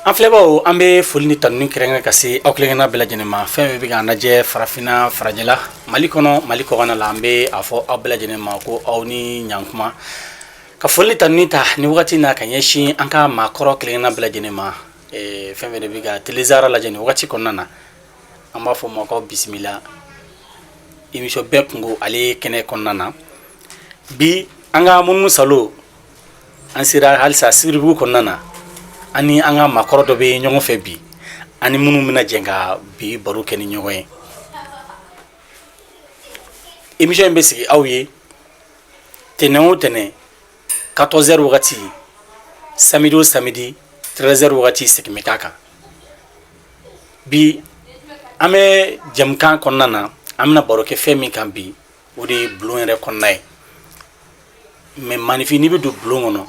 An filɛbagaw an bɛ foli ni tanuni kɛrɛnkɛrɛn ka se aw kelenkelenna bɛɛ lajɛlen ma fɛn fɛn bɛ k'an lajɛ farafinna farajɛ la Mali kɔnɔ Mali kɔkan na an bɛ a fɔ aw bɛɛ lajɛlen ma ko aw ni ɲankuma ka foli ni tanuni ta nin wagati in na ka ɲɛsin an ka maakɔrɔ kelenkelenna bɛɛ lajɛlen ma fɛn fɛn de bɛ ka telesaara lajɛ nin wagati kɔnɔna na an b'a fɔ o ma k'aw bisimila émission bɛɛ kunko ale kɛnɛ kɔnɔna na bi an ka munu saalo an sera halisa sibiribugu kɔnɔna na an ni an ka maakɔrɔ dɔ bɛ ɲɔgɔn fɛ bi an ni minnu bɛna jɛ ka bi baro kɛ ni ɲɔgɔn ye émission in bɛ sigi aw ye tɛnɛn o tɛnɛn 14 heures wagati samedi o samedi 13 heures wagati segin bɛ k'a kan bi an bɛ jɛmukan kɔnɔna na an bɛna baro kɛ fɛn min kan bi o de ye bulon yɛrɛ kɔnɔna ye mais enfin n'i bɛ don bulon kɔnɔ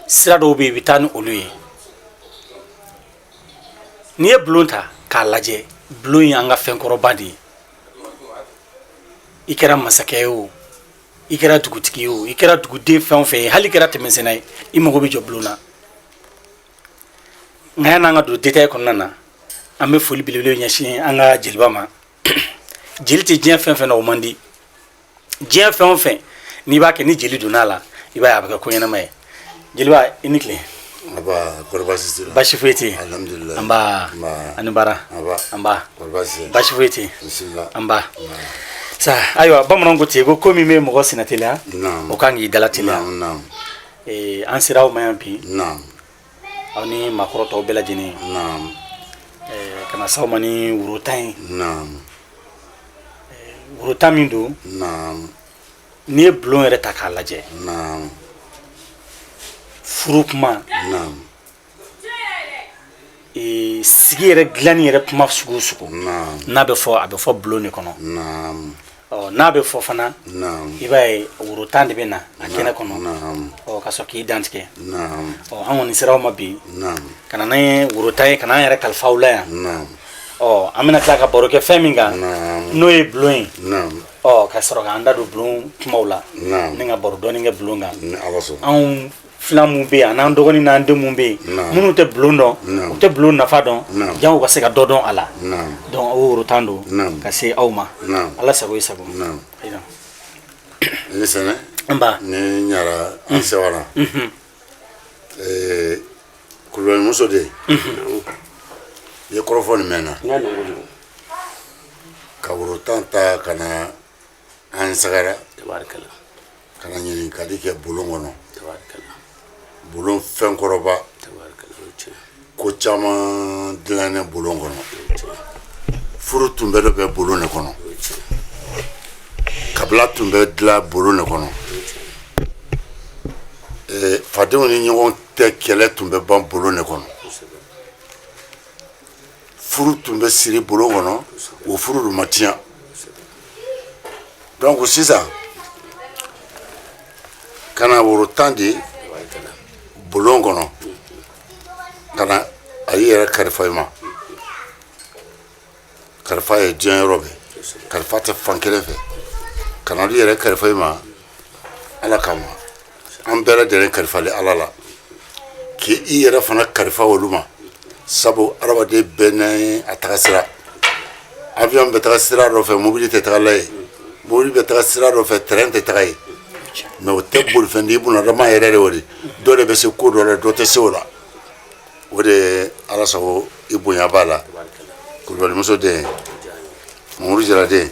sira dɔw bɛ yen i bɛ taa ni olu ye n'i ye bulon ta k'a lajɛ bulon ye an ka fɛn kɔrɔba de ye i kɛra masakɛ ye o i kɛra dugutigi ye o i kɛra duguden fɛn o fɛn ye hali i kɛra tɛmɛsenna ye i mago bɛ jɔ bulon na nka yan'an ka don détail kɔnɔna na an bɛ foli belebele ɲɛsin an ka jeliba ma jeli tɛ diɲɛ fɛn fɛn na o man di diɲɛ fɛn o fɛn n'i b'a kɛ ni jeli donna a la i b'a ye a bɛ kɛ ko ɲɛnama ye jeliba i ni tile basi foyi tɛ yen nba a ni baara nba basi foyi tɛ yen nba sa ayiwa bamananw ko ten ko ko min bɛ mɔgɔ sen nateliya o kan k'i da lateliya an sera aw ma yan bi aw ni maakɔrɔ tɔw bɛɛ lajɛlen naam eh, ka na s'aw ma ni woro tan ye naam eh, woro tan min don naam n'i ye bulon yɛrɛ ta k'a lajɛ naam furu kuma naam eh, sigi yɛrɛ dilanni yɛrɛ kuma sugu o sugu naam n'a bɛ fɔ a bɛ fɔ bulon de kɔnɔ naam n'a bɛ fɔ fana i b'a ye woro tan de bɛ na a kɛnɛ kɔnɔ ka sɔrɔ k'i dantigɛ an kɔni sera aw ma bi ka na ni woro tan ye ka na an yɛrɛ kalifa aw la yan ɔ an bɛna tila ka baro kɛ fɛn min kan n'o ye bulon ye ka sɔrɔ k'an da don bulon kumaw la ni ka baro dɔɔnin kɛ bulon kan anw filan mun bɛ yen ani an dɔgɔnin n'an den mun bɛ yen minnu tɛ bulon dɔn u tɛ bulon nafa dɔn jango u ka se ka dɔ dɔn a la donc o woro tan don ka se aw ma ala sago i sago i ni sɛnɛ nba ne ɲara an mm. sewara mm-hmm. eh, kulubali muso de mm-hmm. ye kɔrɔfɔ nin mɛn na ka woro tan ta ka na an sɛgɛrɛ ka ɲini ka kɛ bulon kɔnɔ bulon fɛn kɔrɔba ko caman dilannen bulon kɔnɔ furu tun bɛ dɔ bɛ bulon de kɔnɔ kabila tun bɛ dilan bulon de kɔnɔ fadenw ni ɲɔgɔn tɛ kɛlɛ tun bɛ ban bulon de kɔnɔ furu tun bɛ siri bulon kɔnɔ o furu dun ma tiɲɛ donc sisan ka na woro tan di bulon kɔnɔ ka na alu yɛrɛ kalifa i ma kalifa ye diɲɛ yɔrɔ bɛɛ kalifa tɛ fan kelen fɛ ka na alu yɛrɛ kalifa i ma ala kama an bɛɛ lajɛlen kalifalen ala la k'i yɛrɛ fana kalifa olu ma sabu adamaden bɛɛ n'a taga sira avion bɛ taga sira dɔ fɛ mobili tɛ taga la yen mobili bɛ taga sira dɔ fɛ train tɛ taga yen mɛ o tɛ bolifɛn di bunadama yɛrɛ de o de dɔ de bɛ se ko dɔ la dɔ tɛ se o la o de ala sago i bonya b'a la kulubalimuso den mamuru jaraden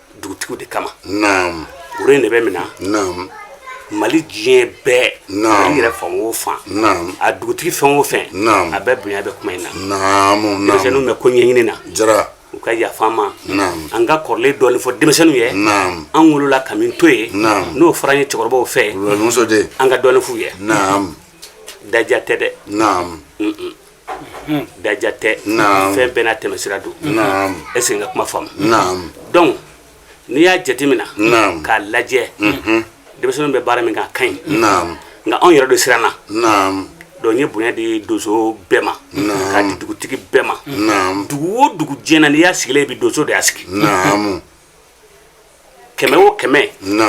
dugutigiw de kama naam woro in de bɛ mina naam mali diɲɛ bɛɛ Naam. mali yɛrɛ fan o fan naam a dugutigi fɛn o fɛn Naam. a bɛɛ bonya bɛ kuma in na naamu naamu denmisɛnninw bɛ ko ɲɛɲini na jara u ka yafa an ma Naam. an ka kɔrɔlen dɔɔni fɔ denmisɛnninw ye naam an wolola ka min to yen Naam. n'o fɔra an ye cɛkɔrɔbaw fɛ wulɔnimuso de an ka dɔɔni f'u ye naam dɔgɔya tɛ dɛ naam Mm-mm. dɔgɔya tɛ fɛn bɛɛ n'a tɛmɛsira don e segin ka kuma faamu donc n'i y'a jatemina k'a lajɛ denmisɛnnin bɛ baara min kɛ a ka ɲi nka anw yɛrɛ dun siranna donc an ye bonya di donso bɛɛ ma k'a di dugutigi bɛɛ ma dugu o dugu diɲɛ na n'i y'a sigilen ye bi donso de y'a sigi kɛmɛ o kɛmɛ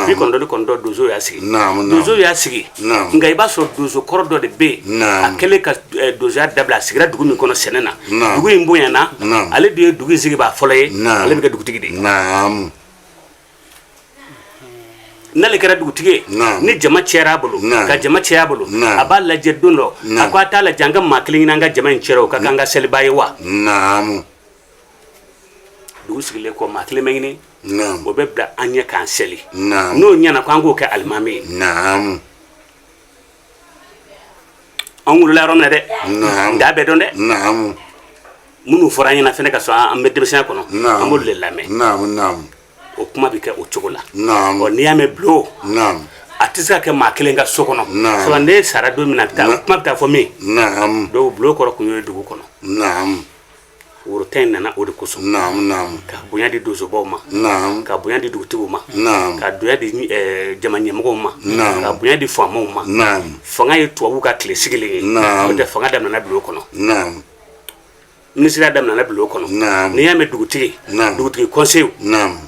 bi kɔnɔntɔn ni kɔnɔntɔn donso y'a sigi donso y'a sigi nka i b'a sɔrɔ donso kɔrɔ dɔ de bɛ yen a kɛlen ka eh, donsoya dabila a sigira dugu min kɔnɔ sɛnɛ na dugu in bonyana ale de ye dugu in sigibaa fɔlɔ ye ale bɛ kɛ dugutigi de ye n'ale kɛra dugutigi ye ni jama cayara a bolo ka jama caya a bolo a b'a lajɛ don dɔ a ko a t'a lajɛ an ka maa kelen ɲini an ka jama in cayara o ka k'an ka selibaa ye wa dugu sigilen kɔ maa kelen bɛ ɲini o bɛ bila an ɲɛ k'an seli n'o ɲɛna ko an k'o kɛ alimami ye an wolola yɔrɔ min na dɛ an t'a bɛɛ dɔn dɛ minnu fɔra an ɲɛna fana kasɔrɔ an bɛ denmisɛnya kɔnɔ an b'olu de lamɛn o kuma bɛ kɛ o cogo la ɔ n'i y'a mɛn bulon a tɛ se ka kɛ maa kelen ka so kɔnɔ sɔrɔ ne sara don min na kuma bɛ taa fɔ min dɔw bulon kɔrɔ tun ye dugu kɔnɔ woro tan in nana o de kosɔn naam naam ka bonya di donsobaw ma naam ka bonya di dugutigiw ma naam ka bonya di eh, jama ɲɛmɔgɔw ma naam ka bonya di faamaw ma naam fanga ye tubabu ka tile sigilen ye naam n'o tɛ fanga daminɛna bulon kɔnɔ naam minisiriya daminɛna bulon kɔnɔ naam n'i y'a mɛn dugutigi naam dugutigi kɔnseyiw naam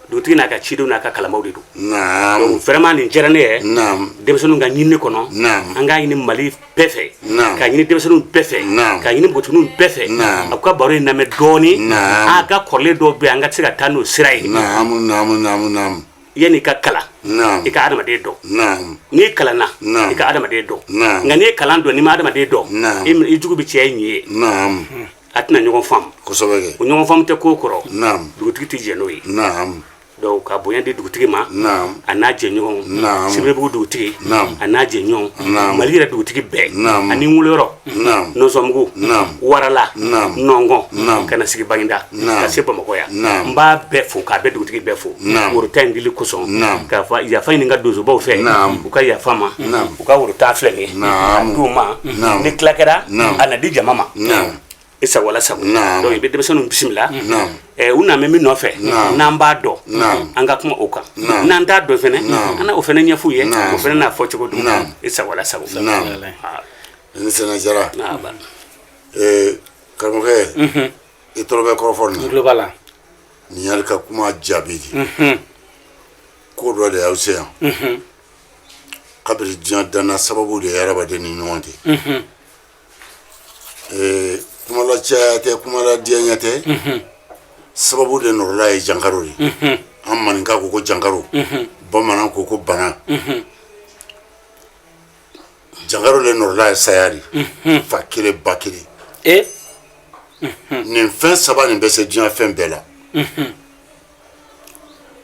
dugutigi n'a ka cidenw n'a ka kalamaw de don naam donc vraiment nin diyara ne ye naam denmisɛnninw ka ɲinini kɔnɔ naam an k'a ɲini mali bɛɛ fɛ naam k'a ɲini denmisɛnninw bɛɛ fɛ naam k'a ɲini npogotigininw bɛɛ fɛ naam a ka baro in lamɛn dɔɔni naam a ka kɔrɔlen dɔw bɛ an ka se ka taa n'o sira ye naam naam naam naam yanni i ka kalan naam i ka adamaden dɔn naam n'i kalanna naam i ka adamaden dɔn naam nka n'i ye kalan dɔn n'i ma adamaden dɔn naam i jugu bɛ caya i ɲin ye naam a tɛna ɲɔgɔn faamu kosɛbɛ kɛ o ɲɔgɔn faamu tɛ ko kɔrɔ naam dugutigi tɛ jɛn n'o ye naam donc ka bonya di dugutigi ma naam a n'a jɛɲɔgɔnw Naam. sibiribugu dugutigi Naam. a n'a jɛɲɔgɔnw Naam. mali yɛrɛ dugutigi bɛɛ Naam. ani n woloyɔrɔ Naam. nɔnsɔnbugu Naam. warala Naam. nɔngɔn Naam. ka na sigi baginda Naam. ka se bamakɔ yan Naam. n b'a bɛɛ fo k'a bɛɛ dugutigi bɛɛ fo Naam. woro tan in dili kosɔn Naam. k'a fɔ yafa ɲini n ka donsobaw fɛ Naam. u ka yafa n ma Naam. u ka woro tan filɛ ye du ma ni tila kɛra a na di jama ma i sago ala sago i bɛ denmisɛnninw bisimila u naan bɛ min nɔfɛ n'an b'a dɔn an ka kuma o kan n'an t'a dɔn fana an na o fana ɲɛfɔ u ye o fana n'a fɔcogo don i sago ala sago ni sina jara karamɔgɔkɛ i tulo bɛ kɔrɔfɔfɔlɔba la nin'ri ka kuma jaabi di ko dɔ de y'aw se yan kabini diɲɛ danna sababu de ye hadamaden ni ɲɔgɔn cɛ ee kumala caya tɛ kumala diyaɲɛ tɛ sababu de nɔrɔla ye jankaro di an maninka ko ko jankaro bamanan ko ko bana jankaro de nɔrɔla ye saya di fa kelen ba kelen nin fɛn saba nin bɛ se diɲɛ fɛn bɛɛ la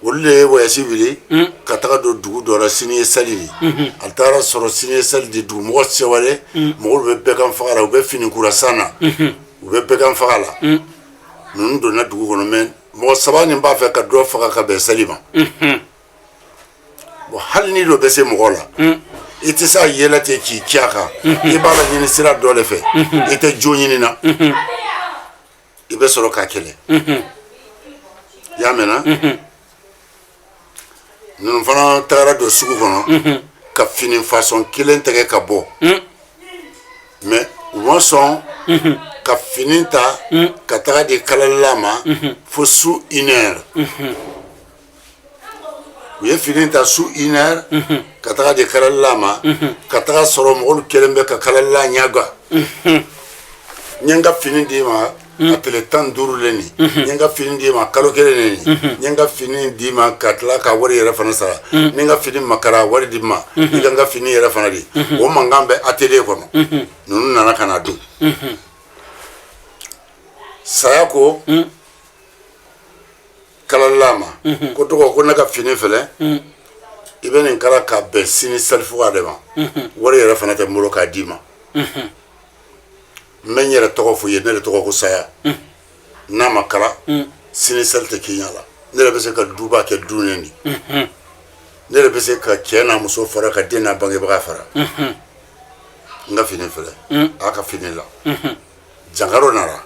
Olu de ye wayasi wuli ka taga don dugu dɔ rɔ sini ye sali ye a taara sɔrɔ sini ye sali di dugumɔgɔ sɛwalen mɔgɔ bɛ bɛgan faga la u bɛ fini kura san na u bɛ bɛgan faga la ninnu donna dugu kɔnɔ mɛ mɔgɔ saba nin b'a fɛ ka dɔ faga ka bɛn sali ma bon hali ni dɔ bɛ se mɔgɔ la i tɛ se a yɛlɛ ten k'i ci kan i b'a laɲini sira dɔ de fɛ i tɛ jo ɲini na i bɛ sɔrɔ k'a kɛlɛ y'a mɛnna ninnu fana tagara don sugu kɔnɔ ka fini fasɔn kelen tɛgɛ ka bɔ mɛ u ma sɔn ka fini ta ka taga di kalalila ma fo su une heure u ye fini ta su iɛ ka taga di kalala ma ka taga sɔrɔ mɔgɔw kɛlen bɛ ka kalala ɲɛga n ka fini d'i ma a tile tan duuru le nin ka fini d'i ma kalo kelen nin ka fini d'i ma ka tila ka wari yɛrɛ fana sara ni ka fini ma kala wari di n ma ka fini yɛrɛ fana di o mankan bɛ atelier kɔnɔ ninnu nana ka na don saya ko kalala ma ko dɔgɔ ko ne ka fini filɛ i bɛ nin kala ka bɛn sini selifuga de ma wari yɛrɛ fana tɛ n bolo k'a d'i ma n bɛ n yɛrɛ tɔgɔ fɔ i ye ne de tɔgɔ ko saya n'a ma kala sini seli tɛ k'i ɲɛ la ne yɛrɛ bɛ se ka duba kɛ dunin di ne yɛrɛ bɛ se ka cɛ n'a muso fara ka den n'a bangebaga fara n ka fini filɛ a y'a ka fini la jankaro nana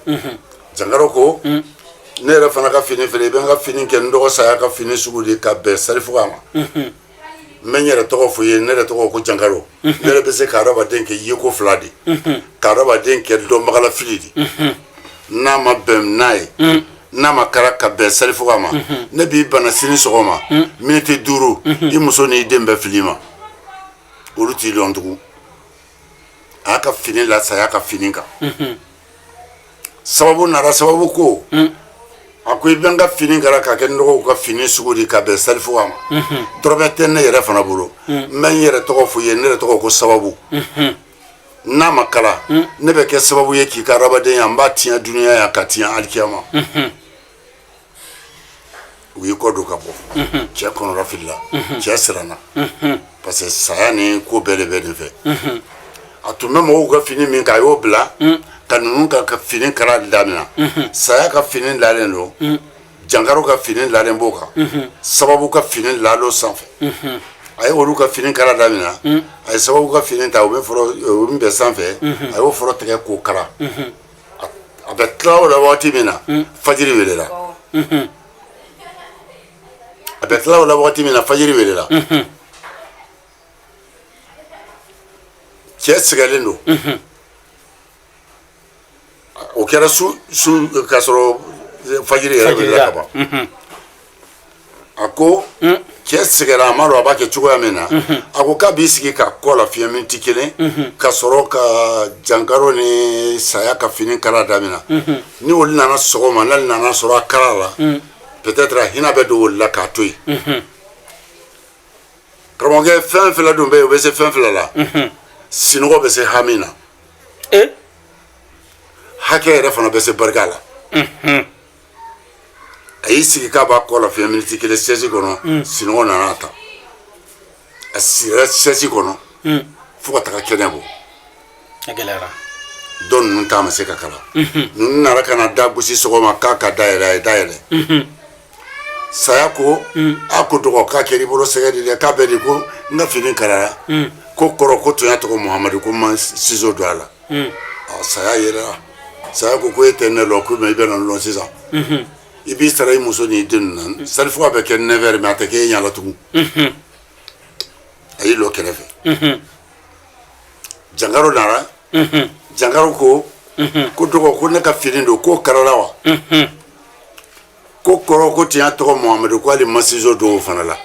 jankaro ko ne yɛrɛ fana ka fini filɛ i bɛ n ka fini kɛ n dɔgɔ saya ka fini sugu di ka bɛn sarifuga ma n bɛ n yɛrɛ tɔgɔ fɔ i ye ne yɛrɛ tɔgɔ ko jankaro ne yɛrɛ bɛ se ka adamaden kɛ yeko fila di ka adamaden kɛ dɔnbagalafili di n'a ma bɛn n'a ye n'a ma kala ka bɛn sarifuga ma ne b'i bana sini sɔgɔma miniti duuru i muso n'i den bɛ fili i ma olu t'i dɔn tugun a y'a ka fini la saya ka fini kan sababu nana sababu ko a ko i bɛ n ka fini kala k'a kɛ n dɔgɔ ka fini sugu di ka bɛn selifuga ma dɔrɔmɛ tɛ ne yɛrɛ fana bolo n bɛ n yɛrɛ tɔgɔ fɔ i ye ne yɛrɛ tɔgɔ ko sababu n'a ma kala ne bɛ kɛ sababu ye k'i ka adamadenya n b'a tiɲɛ dunya yan k'a tiɲɛ alikiyama u y'i kɔdon ka bɔ cɛ kɔnɔnafilila cɛ siranna parce que saya ni ko bɛɛ de bɛ de fɛ a tun bɛ mɔgɔw ka fini min kan a y'o bila ka ninnu ka fini kala damina saya ka fini lalen don jankaro ka fini lalen b'o kan sababu ka fini lalen don sanfɛ a ye olu ka fini kala damina a ye sababu ka fini ta o min bɛ sanfɛ a y'o fɔlɔ tigɛ k'o kala a bɛ tila o la waati min na fajiri welela a bɛ tila o la waati min na fajiri welela cɛ sɛgɛlen don o kɛra su su k'a sɔrɔ fajiri yɛrɛ welela ka ban a ko mm. cɛ sɛgɛnra a ma dɔn a b'a kɛ cogoya min na mm-hmm. a ko k'a b'i sigi k'a kɔ lafiɲɛ miniti kelen mm-hmm. ka sɔrɔ ka jankaro ni saya ka fini kala damina mm-hmm. ni olu nana sɔgɔma n'ale nana sɔrɔ a kalala mm. peut-être a hinɛ bɛ don olu la k'a to yen karamɔgɔkɛ fɛn fila dun bɛ yen o bɛ se fɛn fila la sinɔgɔ bɛ se hami na eh? hakɛ yɛrɛ fana bɛ se barika la a y'i sigi k'a b'a kɔ lafiɲɛ miniti kelen sɛsi kɔnɔ mm. sinɔgɔ nana ta a sira sɛsi kɔnɔ mm. fo ka taga kɛnɛ bɔ a gɛlɛyara dɔ ninnu ta ma se ka kala mm-hmm. ninnu nana ka na da gosi sɔgɔma k'a ka da yɛlɛ a ye da yɛlɛ mm-hmm. saya ko mm. a ko dɔgɔ k'a kɛra i bolo sɛgɛ de dɛ k'a bɛ di ko n ka fini kalara ko kɔrɔ ko tiɲɛ tɔgɔ muhamadu ko n ma sizo don a la saya yɛrɛ saya ko ko e tɛ ne lɔn ko i bɛna lɔn sisan i b'i sara i muso n'i den na sarifu bɛ kɛ ne mɛ a tɛ kɛ e ɲa la tugun a y'i lɔ kɛrɛfɛ jankaro nana jankaro ko ko dɔgɔ ko ne ka fini dun k'o karala wa ko kɔrɔ ko tiɲɛ tɔgɔ muhamadu k'ale ma sizo don o fana la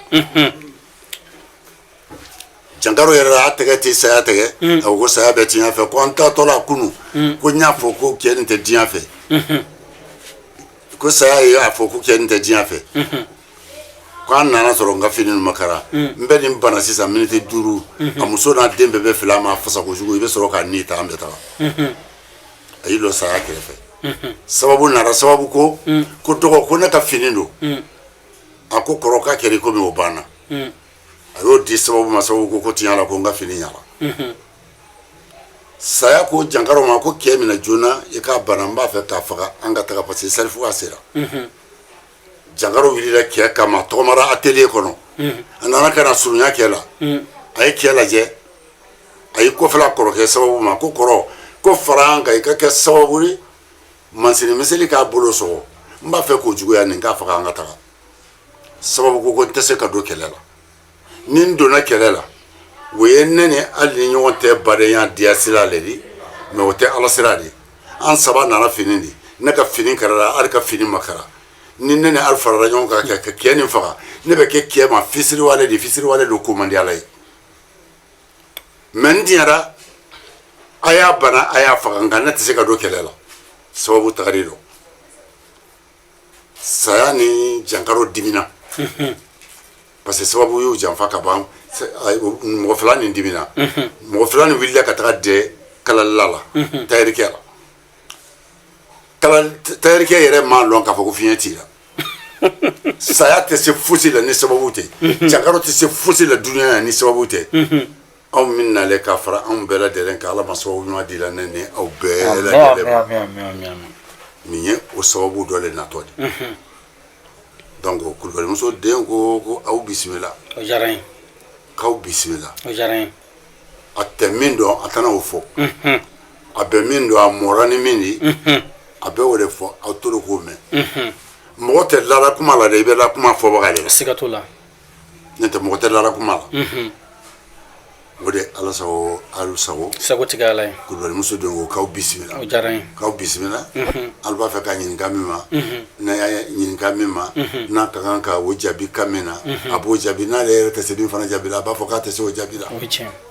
jankaro yɛrɛ y'a tɛgɛ tɛ saya tɛgɛ mm. a ko saya bɛ tiɲɛ fɛ ko an taatɔ la kunun mm. ko n y'a fɔ ko cɛ nin tɛ diɲɛ fɛ mm-hmm. ko saya ye a fɔ ko cɛ nin tɛ diɲɛ fɛ mm-hmm. ko an nana sɔrɔ n ka fini ninnu ma kara mm. n bɛ nin bana sisan miniti duuru mm-hmm. a muso n'a den bɛɛ bɛ fili a ma fasa kojugu i bɛ sɔrɔ k'a ni ta an bɛ taga a y'i lɔ saya kɛrɛfɛ sababu nana sababu ko ko dɔgɔ ko ne ka fini dun a ko kɔrɔ k'a kɛra i komi o banna a y'o di sababu ma sababu ko ko tiɲɛ la ko n ka fini ɲɛna mhm. saya ko jankaro ma ko kɛ minɛ joona i k'a bana n b'a fɛ k'a faga an ka taga parce que sarifu ka sera mhm. jankaro wulila kɛ kama tɔgɔmara atelier kɔnɔ mhm. a nana ka na surunya kɛ la a ye kɛ lajɛ a y'i kɔfɛla kɔrɔkɛ sababu ma ko kɔrɔ ko fara an kan i ka kɛ sababu ye mansini miseli k'a bolo sɔgɔ n b'a fɛ k'o juguya nin k'a faga an ka taga sababu ko ko n tɛ se ka don kɛlɛ la ni n donna kɛlɛ la o ye ne ni ali ni ɲɔgɔn tɛ badenya diya sira le di mɛ o tɛ ala sira di an saba nana fini di ne ka fini karala ali ka fini ma kara ni ne ni ali farala ɲɔgɔn kan kɛ ka kɛ nin faga ne bɛ kɛ kɛ ma fisiriwale di fisiriwale dun ko man di ala ye mɛ n diɲɛra a y'a bana a y'a faga nka ne tɛ se ka don kɛlɛ la sababu tagari don saya ni jankaro dimina parce que sababu y'u janfa ka ban mɔgɔ fila nin dimina mɔgɔ fila nin wulila ka taga dɛ kalalila la tayirikɛ la tayirikɛ yɛrɛ m'a lɔn k'a fɔ ko fiɲɛ t'i la saya tɛ se fosi la ni sababu tɛ jankaro tɛ se fosi la dunya na ni sababu tɛ anw min nalen ka fara anw bɛɛ lajɛlen kan ala ma sababu ɲuman dila ne ni aw bɛɛ lajɛlen ma nin ye o sababu dɔ le natɔ di mhm. donc kulubalimuso den ko ko aw bisimila o diyara n ye k'aw bisimila o diyara n ye a tɛ min dɔn a tɛna o fɔ mhm. a bɛ min dɔn a mɔra ni min ye mhm. a bɛ o de fɔ aw tolo k'o mɛn mɔgɔ tɛ lala kuma la dɛ i bɛ la kuma fɔbaga de la siga t'o la n'o tɛ mɔgɔ tɛ lala kuma la o de ala sago alu sago sagotigi ala ye kulubalimuso don ko k'aw bisimila k'aw bisimila alu b'a fɛ k'a ɲininka min ma n'a y'a ɲininka min ma n'a ka kan ka o jaabi kan min na a b'o jaabi n'ale yɛrɛ tɛ se min fana jaabi la a b'a fɔ k'a tɛ se o jaabi la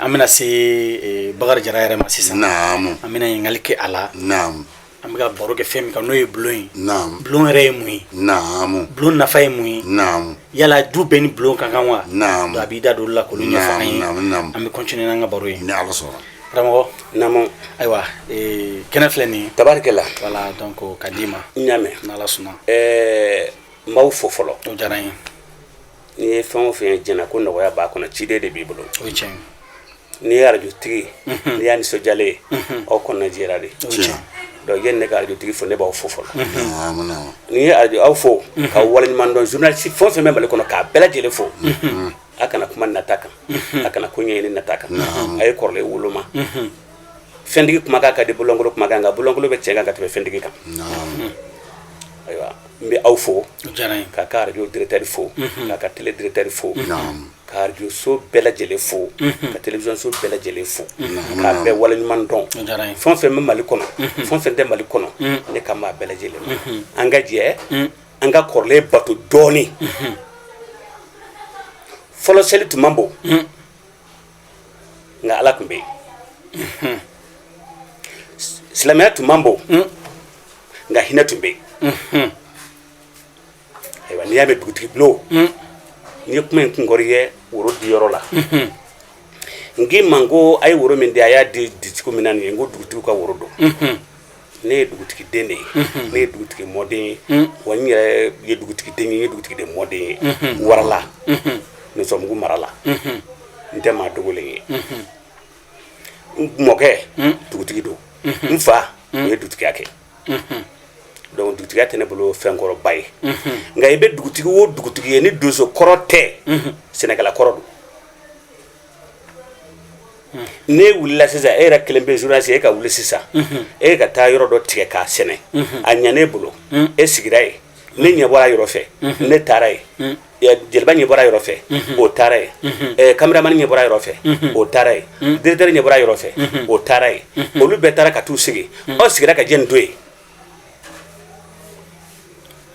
an bɛna se bakari jara yɛrɛ ma sisan an bɛna ɲininkakali kɛ a la an bɛ baro kɛ fɛn min kan n'o ye bulon ye bulon yɛrɛ ye mun ye bulon nafa ye mun ye yala du bɛɛ ni bulon ka kan wa a b'i da don la ko an bɛ coinin an ka baro ye karamɔgɔ ayiwa kɛnɛ filɛ nin tariki la wala dɔn ko ka d'i ma ɲamɛ suma n b'aw fo fɔlɔ diyara ye N'i ye fɛn o fɛn jɛnɛ ko nɔgɔya b'a kɔnɔ ciden de b'i bolo n'i ye arajotigi n'i y'a nisɔndiyalen ye aw kɔnɔna jɛra de donc yanni n ka arajotigi fo ne b'aw fo fɔlɔ n'i ye arajo aw fo ka waleɲuman dɔn journaliste fɛn o fɛn bɛ mali kɔnɔ k'a bɛɛ lajɛlen fo a kana kuma nata kan a kana ko ɲɛɲini nata kan a ye kɔrɔlen woloma fɛntigi kumakan ka di bololankolon kumakan nka bololankolon bɛ tiɲɛ kan ka tɛmɛ fɛntigi kan ayiwa n bɛ aw fo k'a ka arajo directeur fo k'a ka télé directeur fo ka arajo so bɛɛ lajɛlen fo ka télévision so bɛɛ lajɛlen fo k'a bɛɛ waleɲuman dɔn fɛn o fɛn bɛ Mali kɔnɔ fɛn o fɛn tɛ Mali kɔnɔ ne kan b'a bɛɛ lajɛlen ma an ka jɛ an ka kɔrɔlen bato dɔɔnin fɔlɔ seli tun man bon nka ala tun bɛ yen silamɛya tun man bon hmm. nka hinɛ tun bɛ yen hmm. ayiwa n'i y'a mɛn dugutigi bulon hmm. n'i ye kuma in kunkɔrɔ ye woro di yɔrɔ la n k'i ma ko a ye woro min di a y'a di cogo min na nin ye n ko dugutigiw ka woro don ne ye dugutigi den de ye ne ye dugutigi mɔden ye wa n yɛrɛ ye dugutigi den ye ye dugutigi de mɔden ye warala nɔsɔnbugu mara la n tɛ maa dogolen ye n mɔkɛ dugutigi don n faw ye dugutigiya kɛ donc dugutigiya tɛ ne bolo fɛn kɔrɔba ye nka i bɛ dugutigi o dugutigi ye ni donso kɔrɔ tɛ sɛnɛkɛla kɔrɔ don n'e wulila sisan e yɛrɛ kelen pe journaliste e ka wuli sisan e ka taa yɔrɔ dɔ tigɛ k'a sɛnɛ a ɲan'e bolo e sigira yen ne ɲɛ bɔra yɔrɔ fɛ ne taara yen jeliba ɲɛ bɔra yɔrɔ fɛ o taara yen kameramani ɲɛ bɔra yɔrɔ fɛ o taara yen directeur ɲɛ bɔra yɔrɔ fɛ o taara yen olu bɛɛ taara ka t'u sigi aw sigira ka jɛn to yen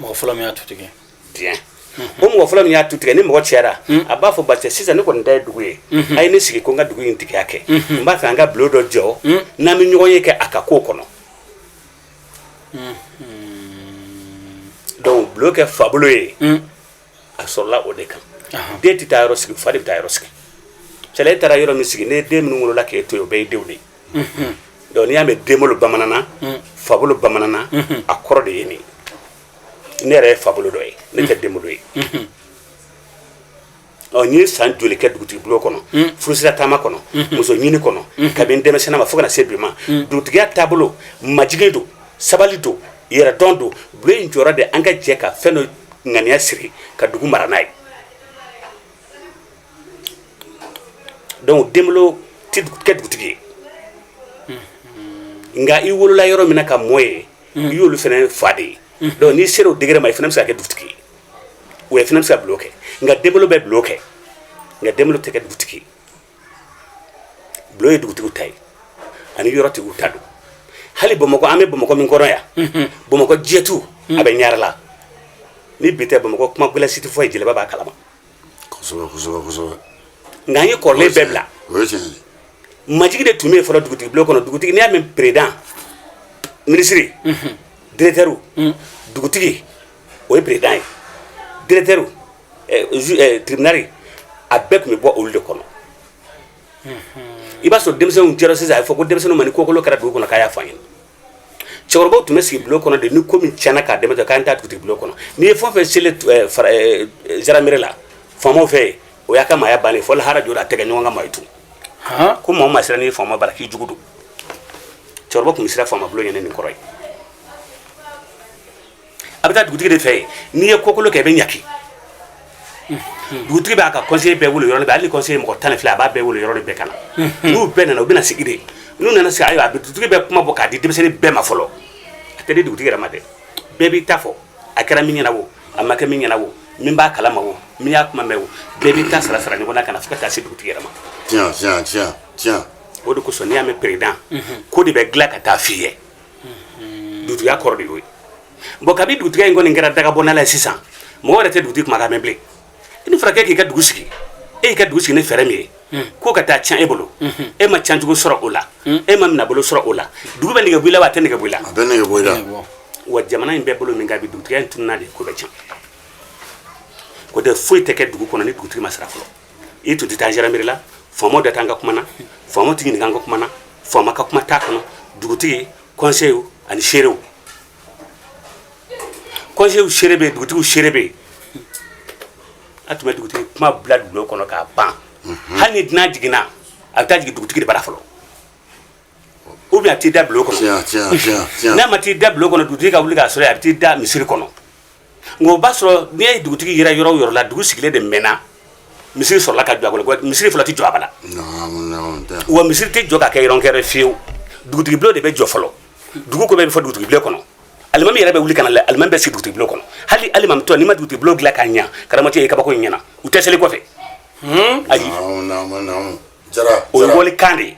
mɔgɔ fɔlɔ min y'a tu tigɛ bien o mɔgɔ fɔlɔ min y'a tu tigɛ ni mɔgɔ cayara a b'a fɔ baasi sisan ne kɔni ta ye dugu ye a ye ne sigi ko n ka dugu in tigiya kɛ n b'a fɛ an ka bulon dɔ jɔ n'an bɛ ɲɔgɔnye kɛ a ka ko kɔnɔ donc bulon kɛ fabolo ye a sɔrɔla o de kan den tɛ taa yɔrɔ sigi fa de bɛ taa yɔrɔ sigi cɛla e taara yɔrɔ min sigi ni den minnu wolola k'e to yen o bɛɛ y'e denw de ye donc n'i y'a mɛn denbolo bamananna fabolo bamananna a kɔrɔ de ye nin ye ne yɛrɛ ye fabolo dɔ ye ne tɛ denbolo ye n ye san joli kɛ dugutigi bulon kɔnɔ furusira taama kɔnɔ muso ɲini kɔnɔ kabini denmisɛnninma fo ka na se bi ma dugutigiya taabolo majigin don sabali don yɛrɛdɔn don bulon jɔyɔrɔ de an ka jɛ ka fɛn dɔ ŋaniya siri ka dugu mara n'a ye donc den tɛ kɛ dugutigi ye nka i wolola yɔrɔ min ka mɔ yen i y'olu fana fa de ye donc n'i sera o degré ma i fana bɛ se ka kɛ dugutigi ye o ye fana bɛ se ka bulon kɛ nka den bɛ bulon kɛ nka den tɛ kɛ dugutigi ye bulon ye dugutigi ta ye ani yɔrɔtigiw ta don hali bamakɔ an bɛ bamakɔ min kɔrɔ yan bamakɔ jɛtu a bɛ ɲala ni bi tɛ bamakɔ kuma gɛlɛn si tun tɛ fɔ yen jeliba b'a kalama nka an ye kɔrɔlen bɛɛ bila majigin de tun bɛ yen fɔlɔ dugutigi bulon kɔnɔ dugutigi n'i y'a mɛn peresidan minisiri diretɛriw dugutigi o ye peresidan ye diretɛriw tiribinali a bɛɛ tun bɛ bɔ olu de kɔnɔ i b'a sɔrɔ denmisɛnninw jɛra sisan a ye fɔ ko denmisɛnninw ma ni kokolon kɛra dugu kɔnɔ k'a y'a fɔ an ye cɛkɔrɔbaw tun bɛ sigi bulon kɔnɔ de ni ko min tiɲɛna k'a dɛmɛ to k'an taa dugutigi bulon kɔnɔ n'i ye fɛn fɛn seli eh, fara eh, zandaramɛri la faamaw fɛ o y'a ka maaya bannen fo lahara jɔra a tɛ kɛ ɲɔgɔn ka maa ye tun ko maa o maa sera n'i faama bara k'i jugu don cɛkɔrɔba tun bɛ siran faama bulon ɲɛ ni nin kɔrɔ ye a bɛ taa dugutigi de fɛ yen n'i ye kokolon kɛ i bɛ ɲangi dugutigi b'a ka kɔnseyi bɛɛ wele yɔrɔ bɛɛ hali kɔnseyi mɔgɔ tan ni fila a b'a bɛɛ wele yɔrɔ bɛɛ ka na n'u bɛɛ nana u bɛna sigi de n'u nana sigi ayiwa a bɛ dugutigi bɛ kuma bɔ k'a di denmisɛnnin bɛɛ ma fɔlɔ a tɛ di dugutigi yɛrɛ ma dɛ bɛɛ b'i ta fɔ a kɛra min ɲɛ na o a ma kɛ min ɲɛ na o min b'a kalama o min y'a kuma mɛn o bɛɛ b'i ta sara sara ɲɔgɔn na ka na fo ka taa se dugutigi yɛrɛ ma tiɲɛ tiɲɛ tiɲɛ tiɲɛ o de kosɔn n'i y'a mɛn peresidan ko de bɛ dilan ka taa f'i ye dugutigiya kɔrɔ de y'o ye bɔn kabi dugutigiya in kɔni kɛra daga bɔnala ye sisan mɔgɔ yɛrɛ tɛ dugutigi kumakan mɛn bilen i ni furakɛ k'i ka dugu sigi e y'i ka dugu sigi ni fɛɛrɛ min ye hmm. k'o ka taa tiɲɛ e bolo hmm. e ma tiɲɛcogo sɔrɔ o la hmm. e ma minɛbolo sɔrɔ o la dugu bɛ nege bɔ i la wa a tɛ nege bɔ i la wa jamana in bɛ bolo min kan bi dugutigiya in tununna de ko bɛɛ tiɲɛ ko tɛ foyi tɛ kɛ dugu kɔnɔ ni dugutigi ma sara fɔlɔ i tun tɛ taa gendarmerie la faamaw da t'an ka kuma na faamaw tɛ ɲininka an ka kuma na faama ka kuma t'a kɔnɔ dugutigi conseil ani seerew conseil seere bɛ yen dugutigiw seere bɛ yen a tun bɛ dugutigi kuma bila bulon kɔnɔ k'a ban hali ni dunan jiginna a bɛ taa jigin dugutigi de bara fɔlɔ ou bien a t'i da bulon kɔnɔ n'a ma t'i da bulon kɔnɔ dugutigi ka wuli k'a sɔrɔ a bɛ t'i da misiri kɔnɔ nka o b'a sɔrɔ ni dugutigi yera yɔrɔ yɔrɔ la dugu sigilen de mɛnna misiri sɔrɔla ka jɔ a kɔnɔ misiri fɔlɔ tɛ jɔ abada wa misiri tɛ jɔ ka kɛ yɔrɔ kɛrɛ fiyewu dugutigi bulon de bɛ jɔ fɔlɔ dugu ko bɛ fɔ dugutigi bulon kɔnɔ alimami yɛrɛ bɛ wuli ka na dɛ alimami bɛ sigi dugutigi bulon kɔnɔ hali alimami tɔ n'i ma dugutigi bulon dilan ka ɲa karamɔgɔ ye kabako in ɲɛna u tɛ seli i kɔfɛ hmm? ayi o ye wali kan de ye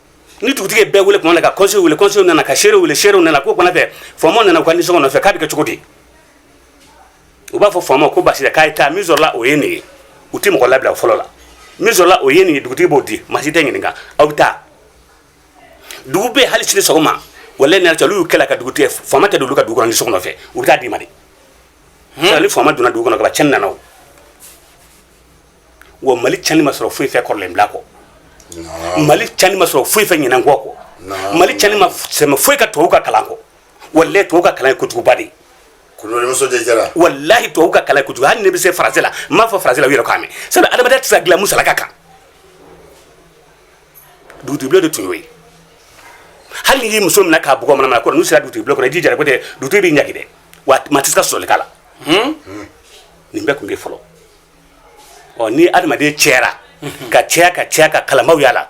ni dugutigi bɛ wele tuma na ka kɔnse wele kɔnse nana ka seere wele seerew nana ko kɔnɔ fɛ faama nana ka nisɔngɔ nɔfɛ k'a bɛ kɛ cogo di u b'a fɔ faama ko basi t'a ye taa min sɔrɔla o ye nin ye u tɛ mɔgɔ labila fɔlɔ la min sɔrɔla o ye nin ye dugutigi b'o di maa si tɛ ɲininka aw bɛ taa dugu bɛ hali sini sɔgɔma wala nana cɛ olu y'u kɛlɛ ka dugutigi faama tɛ olu ka dugu kɔnɔ ni sɔgɔma fɛ u bɛ taa d'i ma de ni faama donna dugu kɔnɔ ka cɛn nana o wa mali tiɲɛni ma sɔrɔ foyi fɛ kɔrɔlen bila kɔ mali tiɲɛni ma sɔrɔ foyi fɛ ɲinɛn kɔ kɔ mali tiɲɛni ma sɛmɛ foyi kan tubabu ka kalan kɔ walayi tubabu ka kalan ye kojuguba de ye walayi tubabu ka kalan ka jugu hali ne bɛ se faransi la n b'a fɔ faransi la u yɛrɛ k'a mɛn sabu adamadenya tɛ se ka dilan musalaka kan dugutigi de tun y'o ye hali n'i ye muso minɛ k'a bugɔ manamana kɔrɔ n'o sera dugutigi bulon kɔnɔ i jija ko tɛ dugutigi b'i ɲangi dɛ wa maa tɛ se ka sɔsɔli k'a la nin bɛɛ tun bɛ fɔlɔ ɔ ni adamaden cayara ka caya ka caya ka kalanbaw y'a la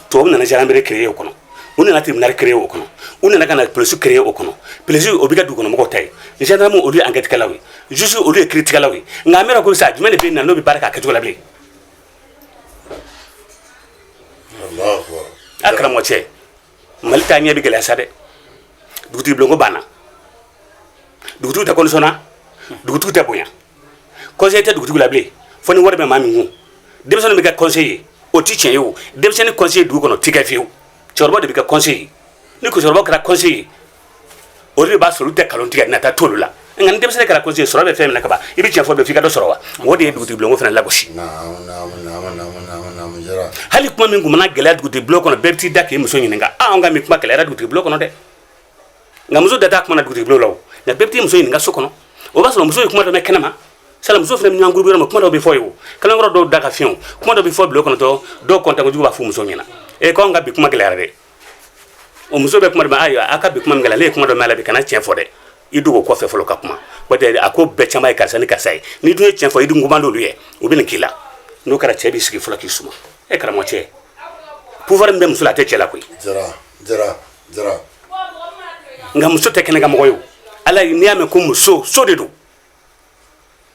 tubabu nana gendarmerie créer o kɔnɔ u nana tribunal créer o kɔnɔ u nana ka na polisi créer o kɔnɔ polisi o bɛ kɛ dugukɔnɔmɔgɔw ta ye gendarme olu ye enquête kɛlaw ye juge olu ye kiritigɛlaw ye nka an bɛ ko sa jumɛn de bɛ yen na n'o bɛ baara k'a kɛcogo la bilen a karamɔgɔ cɛ mali taaɲɛ bɛ gɛlɛya sa dɛ dugutigi bulonko banna dugutigi tɛ condition na dugutigi tɛ bonya kɔnseye tɛ dugutigi la bilen fo ni wari bɛ maa min kun denmisɛnnin bɛ kɛ kɔnseye ye o ti tiɲɛ ye o denmisɛnnin kɔnseye dugu kɔnɔ ti kɛ fiyewu cɛkɔrɔba de bɛ kɛ kɔnseye ye ni cɛkɔrɔba kɛra kɔnseye ye olu de b'a sɔrɔ olu tɛ kalon tigɛ nata t'olu la nka ni denmisɛnnin kɛra kɔnse sɔrɔ bɛ fɛn min na kaban i bɛ tiɲɛ fɔ b'a fɛ i ka dɔ sɔrɔ wa mɔgɔ de ye dugutigi bulonko fana lagosi hali kuma min tun mana gɛlɛya dugutigi bulon kɔnɔ bɛɛ bɛ t'i da k'i muso ɲininka a an ka bi kuma gɛlɛyara dugutigi bulon kɔnɔ dɛ nka muso da t'a kuma la dugutigi bulon la o nka bɛɛ bɛ t'i muso ɲininka so kɔnɔ o b'a sɔrɔ muso ye kuma dɔ mɛn kɛnɛma sabula muso fana bɛ ɲɔgɔn gurubu yɔrɔ min kuma dɔ bɛ fɔ yen o kalankɔrɔ dɔw da ka fiɲɛ kuma dɔ bɛ fɔ bulon kɔnɔ dɔrɔn dɔw kɔntankojugu b'a fɔ muso ɲɛna e k'anw ka bi kuma gɛlɛyara dɛ o muso bɛ kuma dɔ ayiwa a ka bi kuma min kɛ ne ye kuma dɔ mɛn la i kana tiɲɛ fɔ dɛ i dogo kɔfɛ fɔlɔ ka kuma o tɛ a ko bɛɛ caman ye karisa ni karisa ye n'i dun ye tiɲɛ fɔ i dun koman d'olu ye u bɛ nin k'i la n'o kɛra cɛ b'i sigi fɔlɔ k'i suma e karamɔgɔcɛ pouvoir min bɛ muso la a tɛ cɛ la koyi jara jara jara nka muso tɛ kɛnɛkan mɔgɔ ye o la n'i y'a mɛn ko muso so de don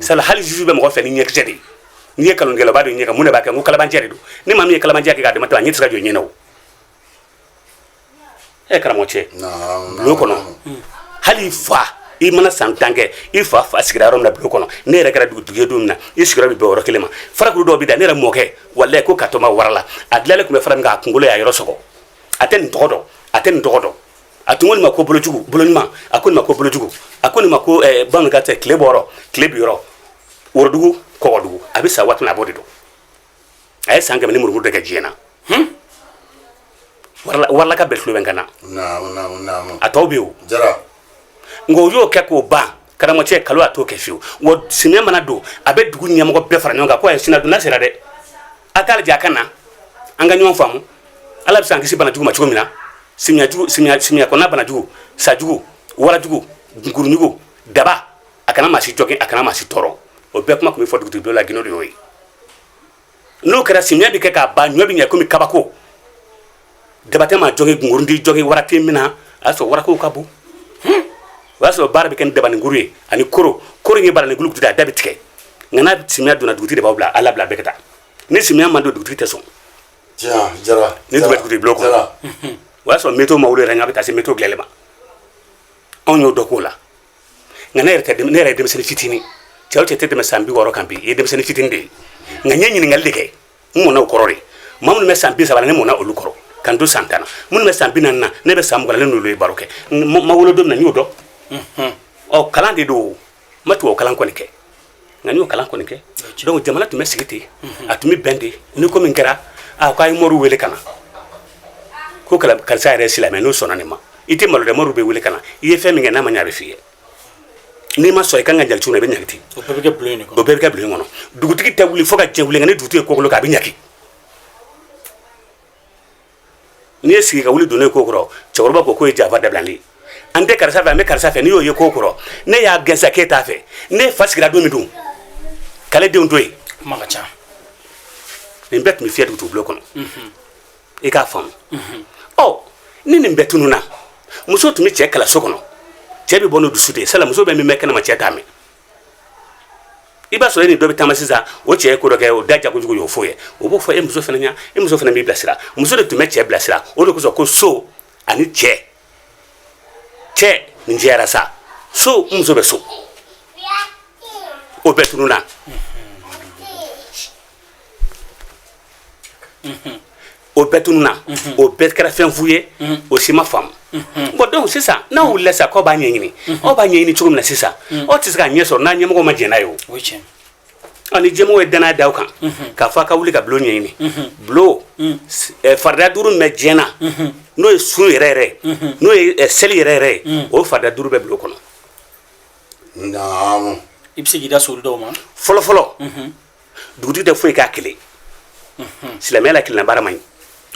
sabula hali juge bɛ mɔgɔ filɛ ni ɲɛkisɛ de ye n'i ye kalon kɛ a b'a dɔn ɲɛ kan mun de b'a kɛ n ko kalabancɛ de don ni maa min ye kalabanciya kɛ k'a dama to a ɲɛ tɛ se ka jɔ ɲɛ na o ɛ karamɔgɔcɛ bulon kɔnɔ hali fa i mana san tan kɛ i fa fa sigira yɔrɔ min na bulon kɔnɔ n'i yɛrɛ kɛra dugutigi ye don min na i sigiyɔrɔ bɛ bɛn yɔrɔ kelen ma farakuru dɔw bɛ da ne yɛrɛ mɔkɛ walayi ko katɔma wara la a dilanlen tun bɛ fara min kan a kunkolo y'a yɔrɔ sɔgɔ a tɛ nin tɔgɔ dɔn a tɛ nin tɔgɔ dɔn a tun ko nin ma ko bolojugu boloɲuman a ko nin ma ko bolojugu a ko nin ma ko eh, bamanankan tɛ tilebɔyɔrɔ tilebinyɔrɔ worodugu kɔgɔdugu a bɛ sa waati min a b'o de dɔn a ye san kɛmɛ ni murumuru de kɛ diɲɛ na hmm? waralaka bɛɛ tulo bɛ n kan na a tɔw bɛ o nka o y'o kɛ k'o ban karamɔgɔcɛ kalon a t'o kɛ fiyewu wa simiya mana don a bɛ dugu ɲɛmɔgɔ bɛɛ fara ɲɔgɔn kan ko a ye simiya donda sera dɛ a k'a lajɛ a ka na an ka ɲɔgɔn faamu ala bɛ se an kisi banajugu ma cogo min na simiyajugu simiya simiya kɔnɔna banajugu sajugu warajugu nkurujugu daba a kana maa si jogin a kana maa si tɔɔrɔ o bɛɛ kuma tun bɛ fɔ dugutigi bulon gindo de y'o ye n'o kɛra simiya bɛ kɛ k'a ban ɲɔ bɛ ɲɛ komi kabako daba tɛ maa jogin nkurun t'i jogin waati min na a y'a sɔrɔ waraw ka bon o y'a sɔrɔ baara bɛ kɛ dabankuru ye ani koro koro ye baarain kulu da a da bɛ tigɛ nka n'a simiya donna dugu de b'a bila ala bila bɛɛ ka taa ni simiya ma don dugu tɛ sɔn ni tun dugu bulon kɔnɔ o y'a sɔrɔ mɛto ma yɛrɛ n' bɛ taa se mɛto gɛlɛ ma anw y'o dɔ k'o la nka ne yɛrɛ ne yɛrɛ ye denmisɛnnin fitinin ye n si tɛ tɛmɛ san bi wɔɔrɔ kan bi i ye denmisɛnnin fitinin de ye nka n ye ɲininkali de kɛ n mɔna o kɔrɔ de ma minnu bɛ san bi saba ne mɔna olu kɔrɔ ka n to san tan na minnu bɛ san bi naani na ne bɛ san mugan ne n'olu ye baro kɛ ma wolo don na n y'o dɔn mhm. ɔ kalan de don n ma tubabu kalan kɔni kɛ nka n y'o kalan kɔni kɛ donc jamana tun bɛ sigi ten mhm. a tun bɛ bɛn ten ni ko min kɛra a ko a ye moriw wele ka na ko karisa yɛrɛ silamɛ n'o sɔnna nin ma i tɛ malo dɛ moriw bɛ wele ka na i ye fɛn min kɛ n'a ma ɲɛ a bɛ f'i ye n'i ma sɔn i kan ka ɲagati na i bɛ ɲagati o bɛɛ bɛ kɛ bulon in kɔnɔ o bɛɛ bɛ kɛ bulon in kɔnɔ dugutigi tɛ wuli fo ka jɛ wuli nka ni dugutigi ye ko kolon kɛ a bɛ ɲangi n'i ye sigi ka wuli donnen ko kɔrɔ cɛkɔrɔba ko k'o ye janfa dabilalen an tɛ karisa fɛ an bɛ karisa fɛ n'i y'o ye ko kɔrɔ ne y'a gɛnsa k'e t'a fɛ ne fa sigira don min dun k'ale denw to yen kuma ka ca nin bɛɛ tun bɛ fiyɛ dugutigi bulon kɔnɔ i k'a faamu ɔ ni nin bɛɛ tununna muso tun bɛ cɛ kalan so kɔnɔ cɛ bɛ bɔ n'o dusu de ye sala muso bɛ min mɛn kɛnɛma cɛ t'a mɛn i b'a sɔrɔ e ni dɔ bɛ taama sisan o cɛ ye ko dɔ kɛ o da jagojugu y'o fɔ ye o b'o fɔ e muso fana ɲa e muso fana b'i bilasira muso de tun bɛ cɛ bilasira o de kosɔn ko so ani cɛ cɛ nin jɛyara sa so n muso bɛ so o bɛɛ tununna o bɛɛ tununna o bɛɛ kɛra fɛn fu ye o si ma faamu bon donc sisan n'aw wulila sisan k'aw b'a ɲɛɲini aw b'a ɲɛɲini cogo min na sisan aw tɛ se k'a ɲɛ sɔrɔ n'aw ɲɛmɔgɔ ma jɛn n'a ye o ani jɛmɔgɔ ye danaya da aw kan k'a fɔ a ka wuli ka bulon ɲɛɲini bulon farida duuru min bɛ diinɛ na n'o ye sun yɛrɛ yɛrɛ n'o ye seli yɛrɛ yɛrɛ ye o farida duuru bɛ bulon kɔnɔ i bɛ se k'i da sori dɔw ma fɔlɔ fɔlɔ dugutigi tɛ foyi k'a kelen silamɛya la kelenna baara man ɲi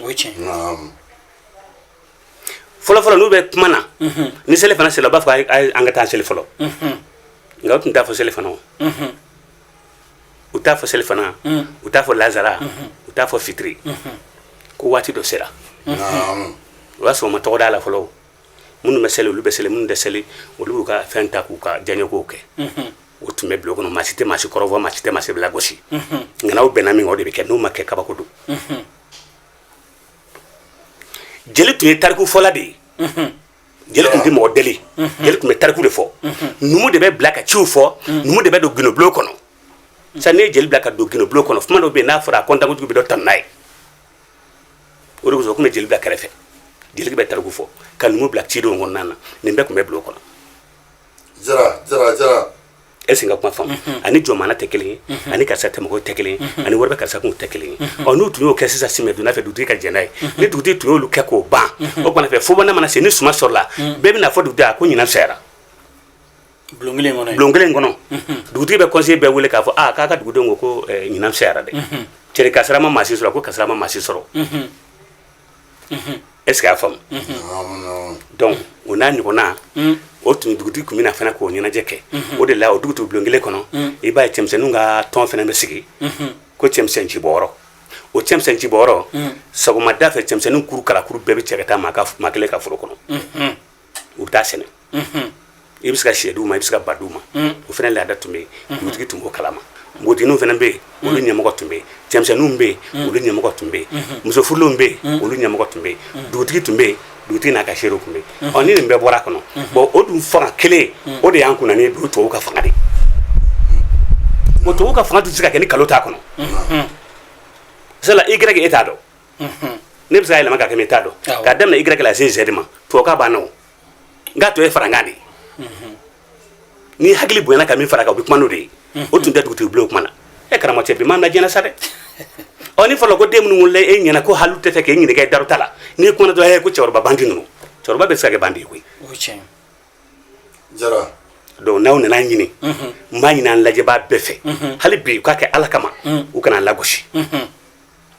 o ye tiɲɛ ye Naam. fɔlɔ fɔlɔ n'u bɛ kuma na ni selifana sera u b'a fɔ a ye- a ye- an ka taa seli fɔlɔ nka u tun t'a fɔ selifana o u t'a fɔ selifana u t'a fɔ lansara u t'a fɔ fitiri ko waati dɔ sera Naam. o y'a sɔrɔ u ma tɔgɔ d'a la fɔlɔ o. minnu bɛ seli olu bɛ seli minnu tɛ seli olu b'u ka fɛn ta k'u ka diyaɲɛkow kɛ o tun bɛ bulon kɔnɔ maa si tɛ maa si kɔrɔfɔ maa si tɛ maa si lagosi nka n'aw bɛnna min kan o de bɛ kɛ n'o ma kɛ kabako don jeli tun ye tariku fɔla de ye jeli tun tɛ mɔgɔ deli jeli tun bɛ tariku de fɔ numu de bɛ bila ka ciw fɔ numu de bɛ don gundobulon kɔnɔ sisan n'i ye jeli bila ka don gundobulon kɔnɔ kuma dɔ bɛ yen n'a fɔra a kɔntankuntigi bɛ dɔ tanu n'a ye o de kosɔn u tun bɛ jeli bila kɛrɛfɛ jeli bɛ tariku fɔ ka numu bila cidenw kɔnɔna na nin bɛɛ tun bɛ bulon kɔnɔ Jara Jara Jara est ce que n ka kuma faamuna ani jɔnmaaya tɛ kelen ye ani karisa tɛmɛncogo tɛ kelen ye ani wari bɛ karisa kun tɛ kelen ye ɔ n'u tun y'o kɛ sisan samiyɛdonda fɛ dugutigi ka jɛn n'a ye ni dugutigi tun y'olu kɛ k'o ban o tuma fɛ fobɔnda mana se ni suman sɔrɔla bɛɛ bɛna fɔ dugutigi a ko ɲinan fisayara bulon kelen kɔnɔ bulon kelen kɔnɔ dugutigi bɛ kɔnse bɛɛ wele k'a fɔ aa k'a ka dugudenw ko ko ɲinan fisayara dɛ cɛri kasara ma maa si sɔrɔ ko kasara ma maa si sɔrɔ est ce que i y'a faamu donc o n'a ɲɔgɔnna o tun dugutigi tun bɛna fana k'o ɲɛnajɛ kɛ o de la o dugu bulon kelen kɔnɔ i b'a ye cɛmisɛnw ka tɔn fana bɛ sigi ko cɛmisɛn ci bɔ o cɛmisɛn ci bɔ sɔgɔmada fɛ cɛmisɛnw kuru kalakuru bɛɛ bɛ cɛ ka taa maa kelen ka foro kɔnɔ u bɛ taa sɛnɛ i bɛ se ka sɛdu ma i bɛ se ka badu ma o fana laada tun bɛ yen dugutigi tun b'o kalama npogotigiw fana bɛ yen olu ɲɛmɔgɔ tun bɛ yen cɛmisɛnninw bɛ yen olu ɲɛmɔgɔ tun bɛ yen musofurulenw bɛ yen olu ɲɛmɔgɔ tun bɛ yen dugutigi tun bɛ yen dugutigi n'a ka seerew tun bɛ yen ɔ ni nin bɛɛ bɔra a kɔnɔ bɔn o dun fanga kelen o de y'an kun ni du tubabu ka fanga de o tubabu ka fanga tun tɛ se ka kɛ ni kalo t'a kɔnɔ sala i grec e t'a dɔn ne bɛ se ka yɛlɛma ka kɛ n t'a dɔn ka daminɛ i grec se zɛdi ma tubabukan bamanankan tɔ ye farankan de ye ni hakili bonyana ka min fara kan o bɛ kuma n'o de ye o tun tɛ dugutigi bulon kuma na e karamɔgɔ cɛ bi m'an lajɛ sa dɛ ɔ ni fɔlɔ ko den minnu wolola e ɲɛna ko hali tɛ fɛ k'e ɲininka i daruta la n'i kumana dɔrɔn e ko cɛkɔrɔba bandi ninnu cɛkɔrɔba bɛ se ka kɛ bandi ye koyi jara donc n'aw nana ɲini n b'a ɲini an lajɛbaa bɛɛ fɛ hali bi u k'a kɛ ala kama u kan'an lagosi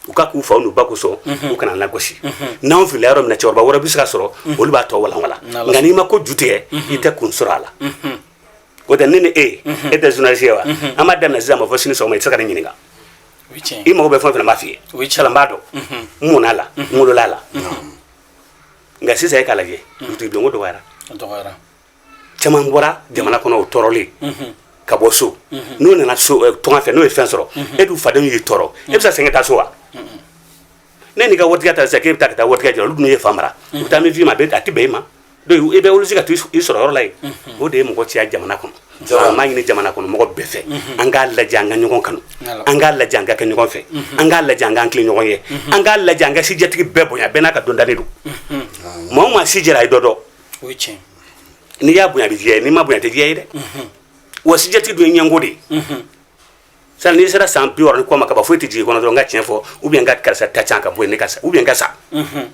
u k'a k'u fa ba kosɔn mhm. u kan'an lagosi mhm. n'an fili yɔrɔ min na cɛkɔrɔba wɛrɛ bɛ se ka sɔrɔ mhm. olu b'a tɔ walanwalan nka n'i ma ko ju tigɛ i tɛ kun sɔrɔ a la o tɛ ne ni e e tɛ journaliste ye wa an b'a daminɛ sisan ma fo sini sɔgɔma i tɛ se ka ne ɲininka i mago bɛ fɛn o fɛn n b'a f'i ye sala n b'a dɔn n mɔn'a la n wolola a la nka sisan e k'a lajɛ dugutigi dɔnko dɔgɔyara caman bɔra jamana kɔnɔ o tɔɔrɔlen ka bɔ so n'o nana eh, tɔn fɛ n'o ye fɛn sɔrɔ e du fadenw y'i tɔɔrɔ e bɛ se segin taa so wa ne n'i ka waritigi ta sisan k'e bɛ taa ka taa waritigi jɔ olu dun y'i fa mara u bɛ taa min f'i ma a tɛ bɛn i ma donc i bɛ wuli se ka to i sɔrɔ yɔrɔ la yen o de ye mɔgɔ caya jamana kɔnɔ jɔyɔrɔ n b'a ɲini jamana kɔnɔ mɔgɔ bɛɛ fɛ an k'a lajɛ an ka ɲɔgɔn kanu an k'a lajɛ an ka kɛ ɲɔgɔn fɛ an k'a lajɛ an k'an tilen ɲɔgɔn ye an k'a lajɛ an ka sijɛtigi bɛɛ bonya bɛɛ n'a ka dɔndalen don maa o maa si jɛra a ye dɔ dɔn o ye tiɲɛ n'i y'a bonya a bɛ diya ye n'i m'a bonya a tɛ diya ye dɛ mhm. wa sijɛtigi dun ye ɲɛngo de ye mhm. sala n'i sera san bi wɔɔrɔ ni kɔ ma kaba foyi tɛ jigin kɔnɔ dɔrɔn n ka tiɲɛ fɔ ou bien n ka karisa ta can ka bɔ yen ne ka sa ou bien n ka sa mhm.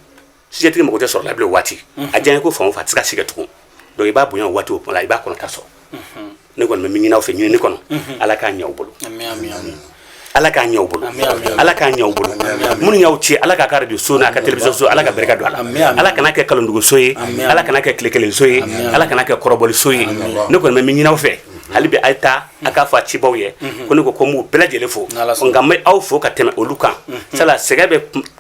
sijɛtigi mago tɛ sɔrɔ la bilen o waati a diya ye ko fan o fan a tɛ se ka si kɛ tugun donc i b'a bonya o waati o kuma la i b'a kɔnɔta sɔrɔ ne kɔni bɛ min ɲini aw fɛ ɲinini kɔnɔ ala k'a ɲɛ aw bolo ala k'a ɲɛ bolo ala k'a ɲɛ bolo minnu y'aw ci ala k'a ka de so n'a ka telibiso so ala ka barika don a la ala kana kɛ kalonduguso ye ala kana kɛ tile kelenso ye ala kana kɛ kɔrɔbɔliso ye ne kɔni bɛ min ɲini aw fɛ hali bɛ a ye taa a k'a fɔ a cibaw ye ko ne ko ko n b'u bɛɛ lajɛlen fo nka n bɛ aw fo ka tɛmɛ olu kan sala sɛgɛ bɛ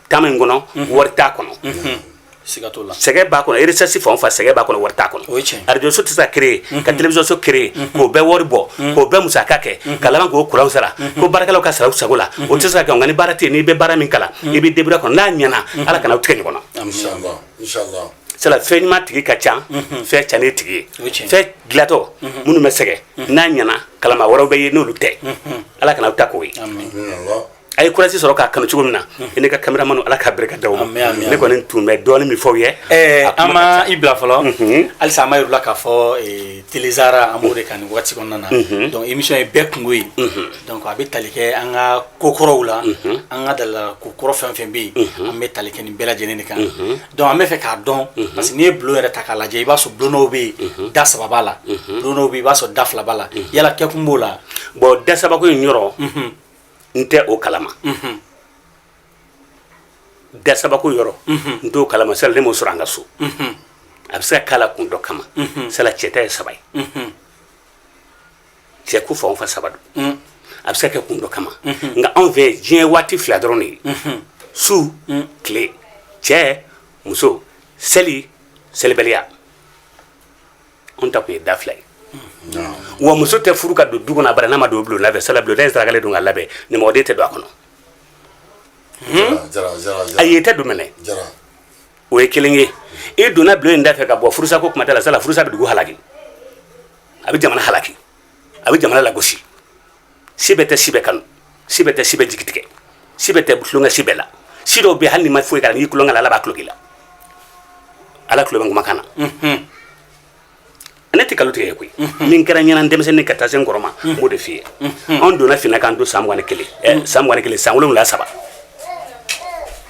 taama in kɔnɔ wari t'a kɔnɔ sɛgɛn b'a kɔnɔ sɛsi fan fa sɛgɛn b'a kɔnɔ wari t'a kɔnɔ arajoso tɛ se kere ka telewisɔnso kere k'o bɛɛ wari bɔ k'o bɛɛ musaka kɛ ka k'o kuranw sara k'o baarakɛlaw ka sara sabula o tɛ se ka ni baara tɛ n'i bɛ baara min kalan i bɛ denbora kɔnɔ n'a ɲɛnaana ala kan'an tigɛ ɲɔgɔn na sala fɛn ɲuman tigi ka ca fɛn ca ne tigi ye fɛn dilatɔ minnu bɛ sɛgɛ n'a ɲɛnaana kalama wɛrɛw bɛ yen n'olu tɛ ala kana bɛ taa k'o ye aw ye kurasi sɔrɔ k'a kanu cogo min na i n'i ka kameramani ala ka barika d'aw ma ne kɔni tun bɛ dɔɔnin min f'aw ye an ma i bila fɔlɔ mhm. halisa an b'a yira la k'a fɔ e, tezsara an b'o de kan nin waati kɔnɔna na mhm. dɔnku imi ye bɛɛ kunko ye mhm. dɔnku a bɛ tali kɛ an ka ko kɔrɔw la an ka laadala ko kɔrɔ fɛn fɛn bɛ yen an bɛ tali kɛ nin bɛɛ lajɛlen de kan dɔnku an bɛ fɛ k'a dɔn parce que n'i ye bulon yɛrɛ ta k'a lajɛ i b'a sɔrɔ bulonw bɛ yen da saba b'a la bulonw bɛ i b'a sɔrɔ da fila b'a la yala kɛkun b'o la bulon da sabako in yɔrɔ n tɛ o kalama dasabako yɔrɔ n t'o kalama sala ne m'o sɔrɔ an ka so a bɛ se ka k'a la kun dɔ kama sala cɛta ye saba ye cɛ ko fanba saba don a bɛ se ka kɛ kun dɔ kama nka anw fɛ diɲɛ waati fila dɔrɔn de ye su tile cɛ muso seli selibaliya anw ta tun ye da fila ye wa muso tɛ furu ka don du kɔnɔ abada n'a ma don bulon da fɛ sala bulon ne sarakalen don k'a labɛn ɲamɔgɔden tɛ don a kɔnɔ a yɛrɛ tɛ du minɛ o ye kelen ye e donna bulon in da fɛ ka bɔ furusa ko kuma t'a la sala furusa bɛ dugu halaki a bɛ jamana halaki a bɛ jamana lagosi si bɛɛ tɛ si bɛɛ kanu si bɛɛ tɛ si bɛɛ jigi tigɛ si bɛɛ tɛ tulonkɛ si bɛɛ la si dɔw bɛ hali n'u ma foyi kɛ n'i tulonkɛ la ala b'a tulo k'i la ala tulo bɛ kumakan na mhm. ne tɛ nkalon tig'i ye koyi mhm. min kɛra n ɲɛna denmisɛnnin ka taa se n kɔrɔ ma mhm. n b'o de f'i ye anw donna finna k'an to san mugan ni kelen eh, san mugan ni kelen san wolonwula saba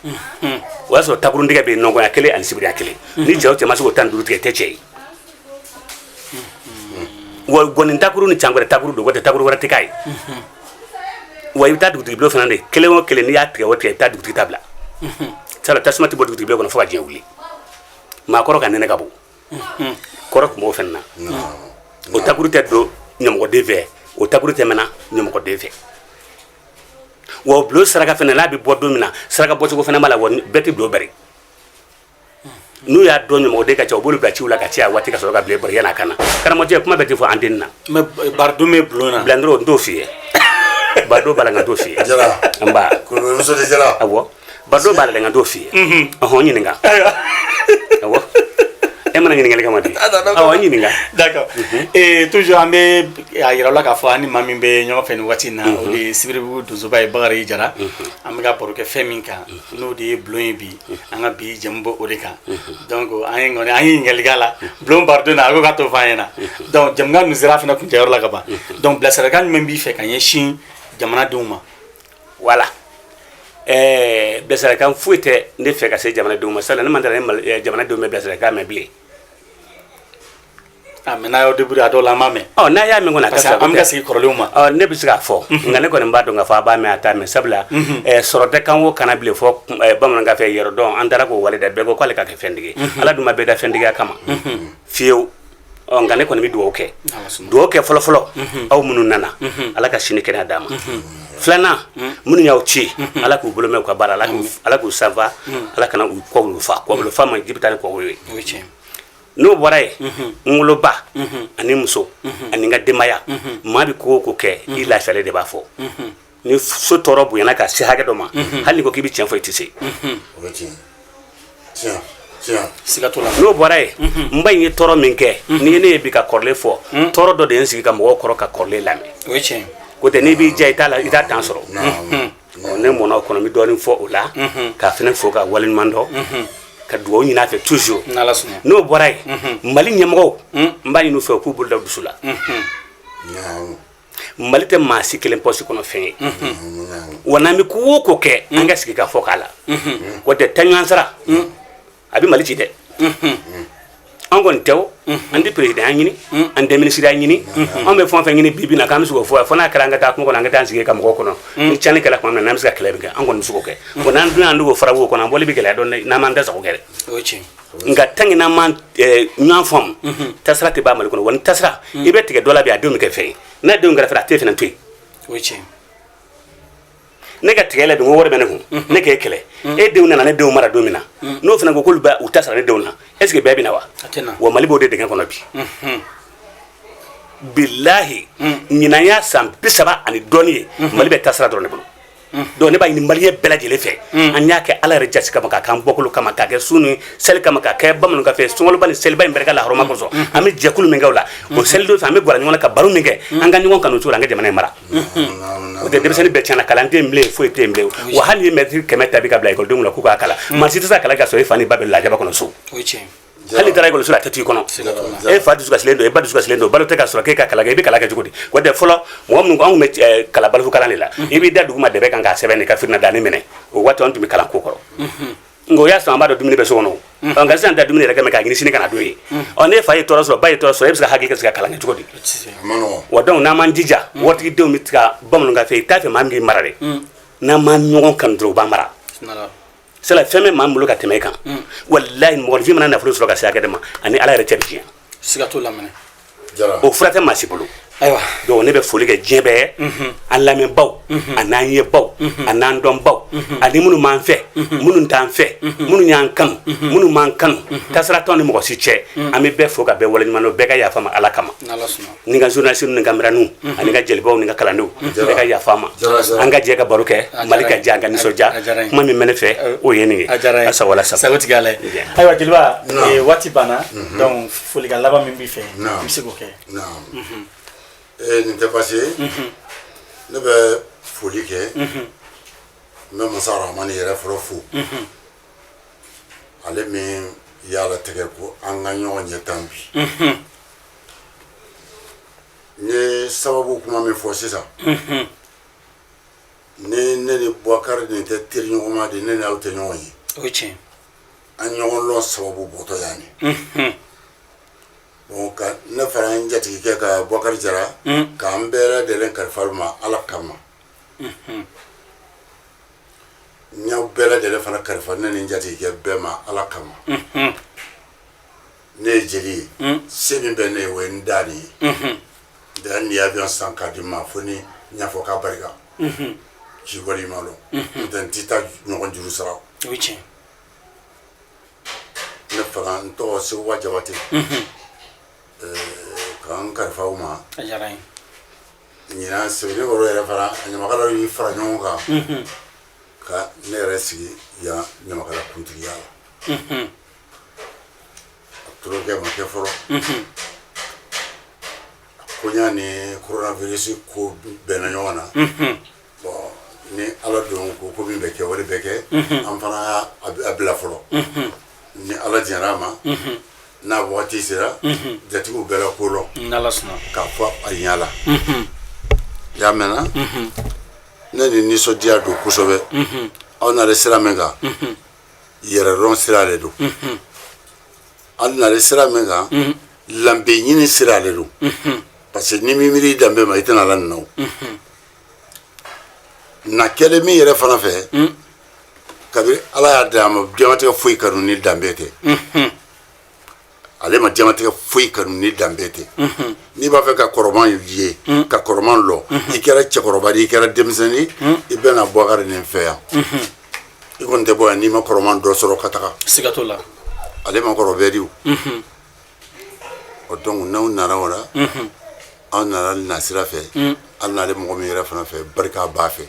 o y'a sɔrɔ takuruntigɛ bɛ yen nɔgɔya kelen ani sibiriya kelen ni cɛ o cɛ ma se k'o tan ni duuru tigɛ o tɛ cɛ ye wa gɔni takuru ni cangɛrɛ takuru don tɛ takuru wɛrɛ tɛ k'a ye wa i bɛ taa dugutigi bulon fana de kelen o kelen n'i y'a tigɛ o tigɛ i bɛ taa dugutigi ta bila sala tasuma tɛ bɔ dugutigi bulon kɔnɔ fo ka diɲɛ wuli maakɔrɔ ka nɛnɛ ka bon kɔrɔ tun b'o fana na o takuru tɛ don ɲamɔgɔden fɛ o takuru tɛ mɛnɛ ɲamɔgɔden fɛ wa o bulon saraka fana n'a bɛ bɔ don min na saraka bɔcogo fana b'a la wa bɛɛ tɛ bulon bari n'u y'a dɔn ɲɔgɔn de ka cɛw bolo ka ci la ka caya waati ka sɔrɔ ka bilen barika kana karamɔgɔjɛ kuma bɛɛ tɛ fɔ an den na mɛ baridon bɛ bulon na bilanen n t'o f'i ye baridon b'a la nka n t'o f'i ye n ba awɔ baridon b'a la nka n t'o f'i ye ɔhɔn ɲininka aw e mana ɲininkali kama di aw ɲininka d'accord mhm. eh, toujours an bɛ a yira la k'a fɔ an ni maa min bɛ ɲɔgɔn fɛ nin waati in na mhm. o de ye sibiribugu donsoba ye bakari jara mhm. an bɛ ka baro kɛ fɛn min kan n'o de ye bulon ye bi an ka bi jɛmu bɛ o de kan donc an ye kɔni an ye ɲininkali k'a la bulon baridon na a ko k'a t'o fɔ an ɲɛna donc jɛmu nin sera fana kuncɛyɔrɔ la ka ban donc bilasiralikan jumɛn b'i fɛ ka ɲɛsin jamanadenw ma wala ɛɛ bilasiralikan foyi tɛ ne fɛ ka se jamanadenw ma sala ne ma d'a la ni jamanadenw bɛ bilasiralikan mɛn bilen A mɛ n'a y'aw debu a dɔw la ma mɛn n'a y'a min kɔnɔ ka an bɛ sigi kɔrɔlen ma ne bɛ se k'a fɔ nka ne kɔni b'a dɔn ka fɔ a b'a mɛn a t'a mɛn sabula sɔrɔ tɛ kan ko kana bilen fɔ bamanankan fɛ yɔrɔ dɔn an taara k'o wale dɛ bɛɛ ko k'ale ka kɛ fɛntigi ala dun ma bɛɛ da fɛntigiya kama fiyewu nka ne kɔni bɛ dugawu kɛ dugawu kɛ fɔlɔfɔlɔ aw minnu nana ala ka si ni kɛnɛya d'a ma filanan minnu y'aw ci ala k'u bolo mɛn ka baara ala k'u sanfa ala kana u kɔfa kɔfa ma ji bɛ taa ni kɔ ye n'o bɔra yen n woloba ani muso ani n ka denbaya maa bɛ ko o ko kɛ i lafiyali de b'a fɔ ni so tɔɔrɔ bonyana ka se hakɛ dɔ ma hali n'i ko k'i bɛ cɛn fɔ i tɛ se n'o bɔra yen n ba in ye tɔɔrɔ min kɛ n'i ye ne ye bi ka kɔrɔlen fɔ tɔɔrɔ dɔ de ye n sigi karamɔgɔw kɔrɔ ka kɔrɔlen lamɛn n'o tɛ n'i b'i diya i t'a la i t'a dan sɔrɔ Bon ne mɛnna o kɔnɔ n bɛ dɔɔnin fɔ o la k'a fana fo ka waleɲuman dɔn ka dugawu ɲini a fɛ toujours n'o bɔra yen Mali ɲɛmɔgɔw n b'a ɲini u fɛ u k'u bolo da u dusu la Mali tɛ maa si kelen poche kɔnɔ fɛn ye wa n'an bɛ ko o ko kɛ an ka sigi k'a fɔ k'a la o tɛ taɲɔgɔn sara a bɛ mali ci dɛ an kɔni tɛ an tɛ peresidanya ɲini an tɛ minisiriya ɲini an bɛ fɛn fɛn ɲini bibi in na k'an bɛ se k'o fɔ fo n'a kɛra an ka taa kungo kɔnɔ an ka taa sigi karamɔgɔw kɔrɔ ni cani kɛlɛ kɔnɔ na n'an bɛ se ka kɛlɛ kɛ an kɔni se k'o kɛ bon n'an donna dugu fara wo kɔnɔ an bɔli bɛ gɛlɛya dɔɔnin an ma an tɛ se k'o kɛ nka tant que n'an ma ɲɔgɔn faamu tasara tɛ ban mali kɔnɔ wa ni tasara i bɛ tigɛ dɔ la bi a denw bɛ kɛ fɛn n'a denw kɛra fɛn a tɛ fana to yen ne ka tigɛ la don wari bɛ ne kun ne k'e kɛlɛ e denw nana ne denw mara don min na n'o fana ko k'olu bɛ u ta sara ne denw na est ce que bɛn bɛ na wa wa mali b'o de dingɛ kɔnɔ bi bilahi ɲinan y'a san bisaba ani dɔɔni ye mali bɛ tasara dɔrɔn ne bolo donc ne b'a ɲini maliyɛn bɛɛ lajɛlen fɛ an y'a kɛ ala yɛrɛ jaati kama k'a k'an bɔkolo kama k'a kɛ sun ni seli kama k'a kɛ bamanankan fɛ sunkaloba ni seliba in barika lahɔrɔma kosɔn an bɛ jɛkulu min kɛ o la o seli don fɛ an bɛ gwɛrɛ ɲɔgɔn na ka baro min kɛ an ka ɲɔgɔn kanu o cogo la an ka jamana in mara o tɛ denmisɛnnin bɛɛ tiɲɛna kalan tɛ yen bilen foyi tɛ yen bilen wa hali n'i mɛtiri kɛmɛ ta bi ka bila ekɔlidenw la k'u k'a kalan maa si tɛ se ka kalan ka sɔrɔ i fa ni ba bɛ lajaba kɔnɔ so hali i taara ekɔliso la a tɛ to i kɔnɔ e fa dusukasilen don e ba dusukasilen don balo tɛ ka sɔrɔ k'e ka kalan kɛ i bɛ kalan kɛ cogo di o tɛ fɔlɔ mɔgɔ minnu anw bɛ kalan balikukalan de la i b'i da duguma dɛbɛn kan k'a sɛbɛn de ka fitinɛ da ne mɛnɛ o waati an tun bɛ kalan k'o kɔrɔ nka o y'a sɔrɔ an b'a dɔn dumuni bɛ so kɔnɔ ɔ nka sisan da dumuni yɛrɛ kɛmɛ k'a ɲini sini kana don ye ɔ ni fa ye tɔɔrɔ sɔrɔ ba ye tɔɔrɔ sɔrɔ e bɛ se ka hakili ka se ka kalan kɛ cogo di wa donc n'an m'an jija waritigidenw bɛ kalan bamanankan fɛ i t'a fɛ maa min k'i mara dɛ n'an ma ɲɔgɔn kanu dɔrɔn u b'an mara sabula fɛn bɛ maa bolo ka tɛmɛ i kan walayi mɔgɔfin mana nafolo sɔrɔ ka se hakɛ dɔ ma a ni ala yɛrɛ cɛ bi tiɲɛ o fura tɛ maa si bolo ayiwa dɔnku ne bɛ foli kɛ diɲɛ bɛɛ an lamɛnbaw an'an yebaw an'an dɔnbaw ani minnu b'an fɛ minnu t'an fɛ minnu y'an kanu minnu m'an kanu dansira t'an ni mɔgɔ si cɛ an bɛ bɛɛ fo ka bɛɛ wale ɲuman bɛɛ ka yafa n ma ala kama ni ka zsi ni ka mrun ani ka jelibaw ni ka kalandenw bɛɛ ka yafa n ma an ka jɛ ka baro kɛ mali ka jan ka nisɔndiya kuma min bɛ n fɛ o ye nin ye sa sa ayiwa jeliba waati banna folikan laban min b'i fɛ i bɛ se k'o kɛ nin tɛ baasi ye ne bɛ foli kɛ n bɛ masa rahamani yɛrɛ fɔlɔ fo ale min y'a latigɛ ko an ka ɲɔgɔn ye tan bi n ye sababu kuma min fɔ sisan ni ne ni bubakari nin tɛ teriɲɔgɔnma di ne ni aw tɛ ɲɔgɔn ye an ɲɔgɔn lɔn sababu bɔtɔ yan ye dɔnku ne fana n jatigikɛ ka bɔkari jara k'an bɛɛ lajɛlen kalifa u ma ala kama n y'aw bɛɛ lajɛlen fana kalifa ne ni jatigikɛ bɛɛ ma ala kama ne ye jeli ye hmm. se min bɛ ne ye o ye n da de ye hmm. da n'i avion san ka di n ma fo n y'a fɔ k'abarika ci hmm. wari ma lɔn n'o tɛ n t'i ta ɲɔgɔn juru sara o ye tiɲɛ ne fana n tɔgɔ sekuba jabate ka n kalifa u ma a diyara n ye ɲinan sebeninkɔrɔ yɛrɛ fana ɲamakalaw y'i fara ɲɔgɔn kan ka ne yɛrɛ sigi yan ɲamakala kuntigiya la tulonkɛ ma kɛ fɔlɔ ko y'a ni koronavirisi ko bɛnna ɲɔgɔn na bon ni ala don ko ko min bɛ kɛ wari bɛ kɛ an fana a bila fɔlɔ ni ala diyara a ma n'a waati sera jatigiw bɛna ko lɔn k'a fɔ a yala y'a mɛnna ne ni nisɔndiya don kosɛbɛ aw nare sira min kan yɛrɛdɔn sira de don aw nare sira min kan danbe ɲini sira de don parce que n'i ma miiri danbe ma i tɛ na ala nina o na kɛlen min yɛrɛ fana fɛ kabiri ala y'a da a ma diɲɛnatigɛ foyi kanu ni danbe tɛ ale ma diɲɛnatigɛ foyi kanu ni danbe tɛ n'i b'a fɛ ka kɔrɔman ye ka kɔrɔman lɔn i kɛra cɛkɔrɔba i kɛra denmisɛnnin i bɛ na bɔkari nin fɛ yan i kɔni tɛ bɔ yan n'i ma kɔrɔman dɔ sɔrɔ ka taga siga t'o la ale maakɔrɔ bɛrɛ di dɔnku n'aw nana o la aw nana nasira fɛ aw nalen mɔgɔ min yɛrɛ fana fɛ barika ba fɛ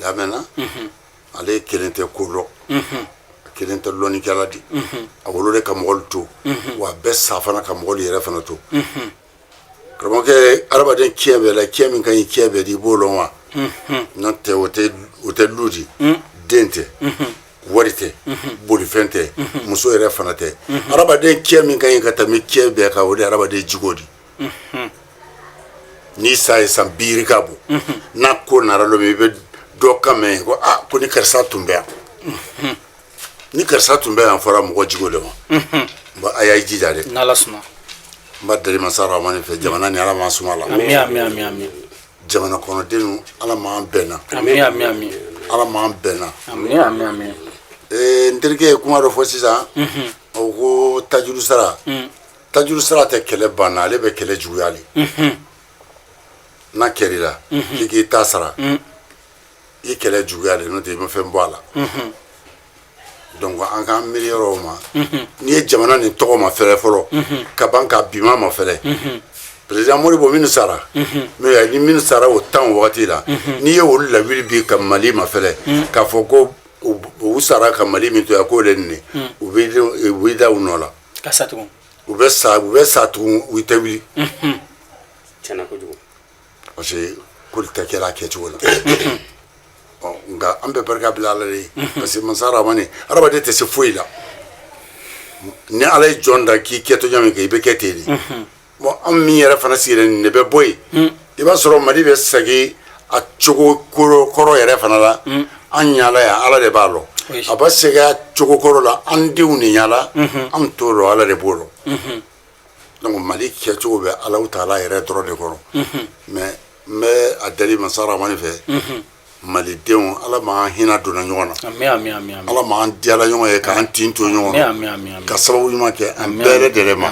lamɛnna ale ye kelen tɛ ko dɔn a kelen tɛ dɔnnikɛla di a wolo de ka mɔgɔlu to wa a bɛ sa fana ka mɔgɔlu yɛrɛ fana to karamɔgɔkɛ adamaden ciyɛn bɛɛ la ciyɛn min ka ɲi ciyɛn bɛɛ di i b'o dɔn wa n'o tɛ o tɛ o tɛ lu di den tɛ wari tɛ bolifɛn tɛ muso yɛrɛ fana tɛ adamaden ciyɛn min ka ɲi ka tɛmɛ ciyɛn bɛɛ kan o de ye adamaden jogo di n'i sa ye san biiri ka bon n'a ko nara don min i bɛ dɔ kan mɛn ko aa ko ni karisa tun bɛ yan ni karisa tun bɛ yan fɔra mɔgɔ jogo de ma bon a y'a jija dɛ n'ala sɔnna n b'a deli masa ramani fɛ jamana nin ala m'a sumala ami ami ami ami jamana kɔnɔdenw ala m'an bɛnna ami ami ami ala m'an bɛnna ami ami ami ee n terikɛ ye kuma dɔ fɔ sisan o ko tajuru sara Tajuru sara tɛ kɛlɛ banna ale bɛ kɛlɛ juguya de la, n'a kɛra i la k'i k'i ta sara i kɛlɛ juguya de la n'o tɛ i ma fɛn bɔ a la, unhun, donc an k'an miiri yɔrɔ o ma n'i ye jamana nin tɔgɔ mafɛlɛ fɔlɔ ka ban k'a bima mafɛlɛ president Modibo minnu sara n'o ye ni minnu sara o tan o wagati la n'i ye olu lawuli bi ka Mali mafɛlɛ k'a fɔ ko u sara ka Mali min to yan k'o de ye nin ye u b'i da u nɔ la ka sa tugun u bɛ sa u bɛ sa tugun u tɛ wuli tiɲɛna kojugu parce que kolu tɛ kɛla a kɛcogo la ɔ nka an bɛ barika bila ala de ye parce que masa ramani hadamaden tɛ se foyi la ni ala ye jɔn da k'i kɛtɔ ɲa min kɛ i bɛ kɛ ten de Bon an min yɛrɛ fana sigilen nin de bɛ bɔ yen i b'a sɔrɔ mali bɛ segin a cogo kɔrɔ yɛrɛ fana la an ɲala yan ala de b'a dɔn a bɛ segin a cogo kɔrɔ la an denw de ɲala an t'o dɔn ala de b'o dɔn donc mali kɛcogo bɛ alahu taala yɛrɛ dɔrɔn de kɔrɔ mais n bɛ a deli masa ramani fɛ malidenw ala m'an hinɛ donna ɲɔgɔn na ala m'an diyala ɲɔgɔn ye k'an tin to ɲɔgɔn na ka sababu ɲuman kɛ an bɛɛ dɛrɛ ma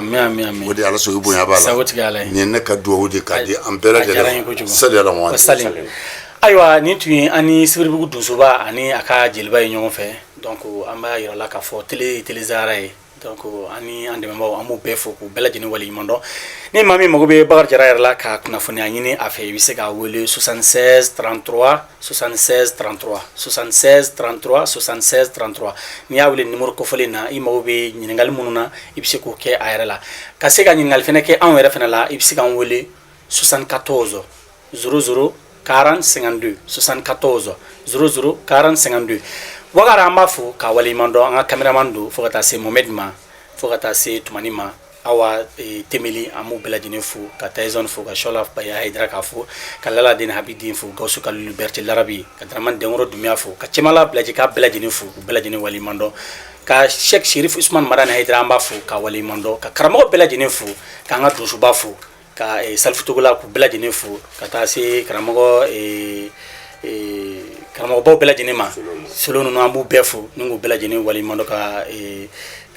o de ala sogo bonya b'a la nin ye ne ka dugawu di k'a di an bɛɛ dɛrɛ sa ayiwa nin tun ye an ni sibiribugu donsoba ani a ka jeliba ye ɲɔgɔn fɛ donc an b'a yirala k'a fɔ tele telisaara ye donc ani an dɛmɛbaaw an b'u bɛɛ fo k'u bɛɛ lajɛlen waleɲuman dɔn ni maa min mago bɛ bakari jara yɛrɛ la ka kunnafoni ɲaɲini a fɛ i bɛ se k'a wele 66 33 66 33 66 33 66 33 n'i y'a wele nimoro kofɔlen na i mago bɛ ɲininkali minnu na i bɛ se k'o kɛ a yɛrɛ la ka se ka ɲininkali fɛnɛ kɛ anw yɛrɛ fɛnɛ la i bɛ se k'an wele 74 00 40 52 74 00 40 52 Wagara an b'a fo k'a waleɲuman dɔn an ka kameraman don fo ka taa se Mohamɛdi ma fo ka taa se Tumani ma Awa e, Temeli an b'u bɛɛ lajɛlen fo ka Tayizɔni fo ka Shɔla Baya Hayidara k'a fo ka Lala Den Habi Den fo Gawusu Kalilu Bɛrite Larabi ka Daramani Dɛnkɔrɔ Dunbiya fo ka Cɛmala Bilaji k'a bɛɛ lajɛlen fo k'u bɛɛ lajɛlen waleɲuman dɔn ka Sɛki Serifu Usumani Madani Hayidara an b'a fo k'a waleɲuman dɔn ka karamɔgɔ bɛɛ lajɛlen fo k'an ka donsoba fo ka eh, Salifu Togola k'u bɛɛ lajɛlen fo ka taa se karamɔgɔ eh, eh, karamɔgɔbaw bɛɛ lajɛlen ma solo ninnu an b'u bɛɛ fo ni k'u bɛɛ lajɛlen waleɲuman dɔn ka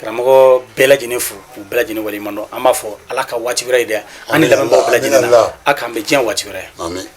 karamɔgɔ bɛɛ lajɛlen fo k'u bɛɛ lajɛlen waleɲuman dɔn an b'a fɔ ala ka waati wɛrɛ yira an ni lamɛnbaaw bɛɛ lajɛlen na a k'an bɛn diɲɛ waati wɛrɛ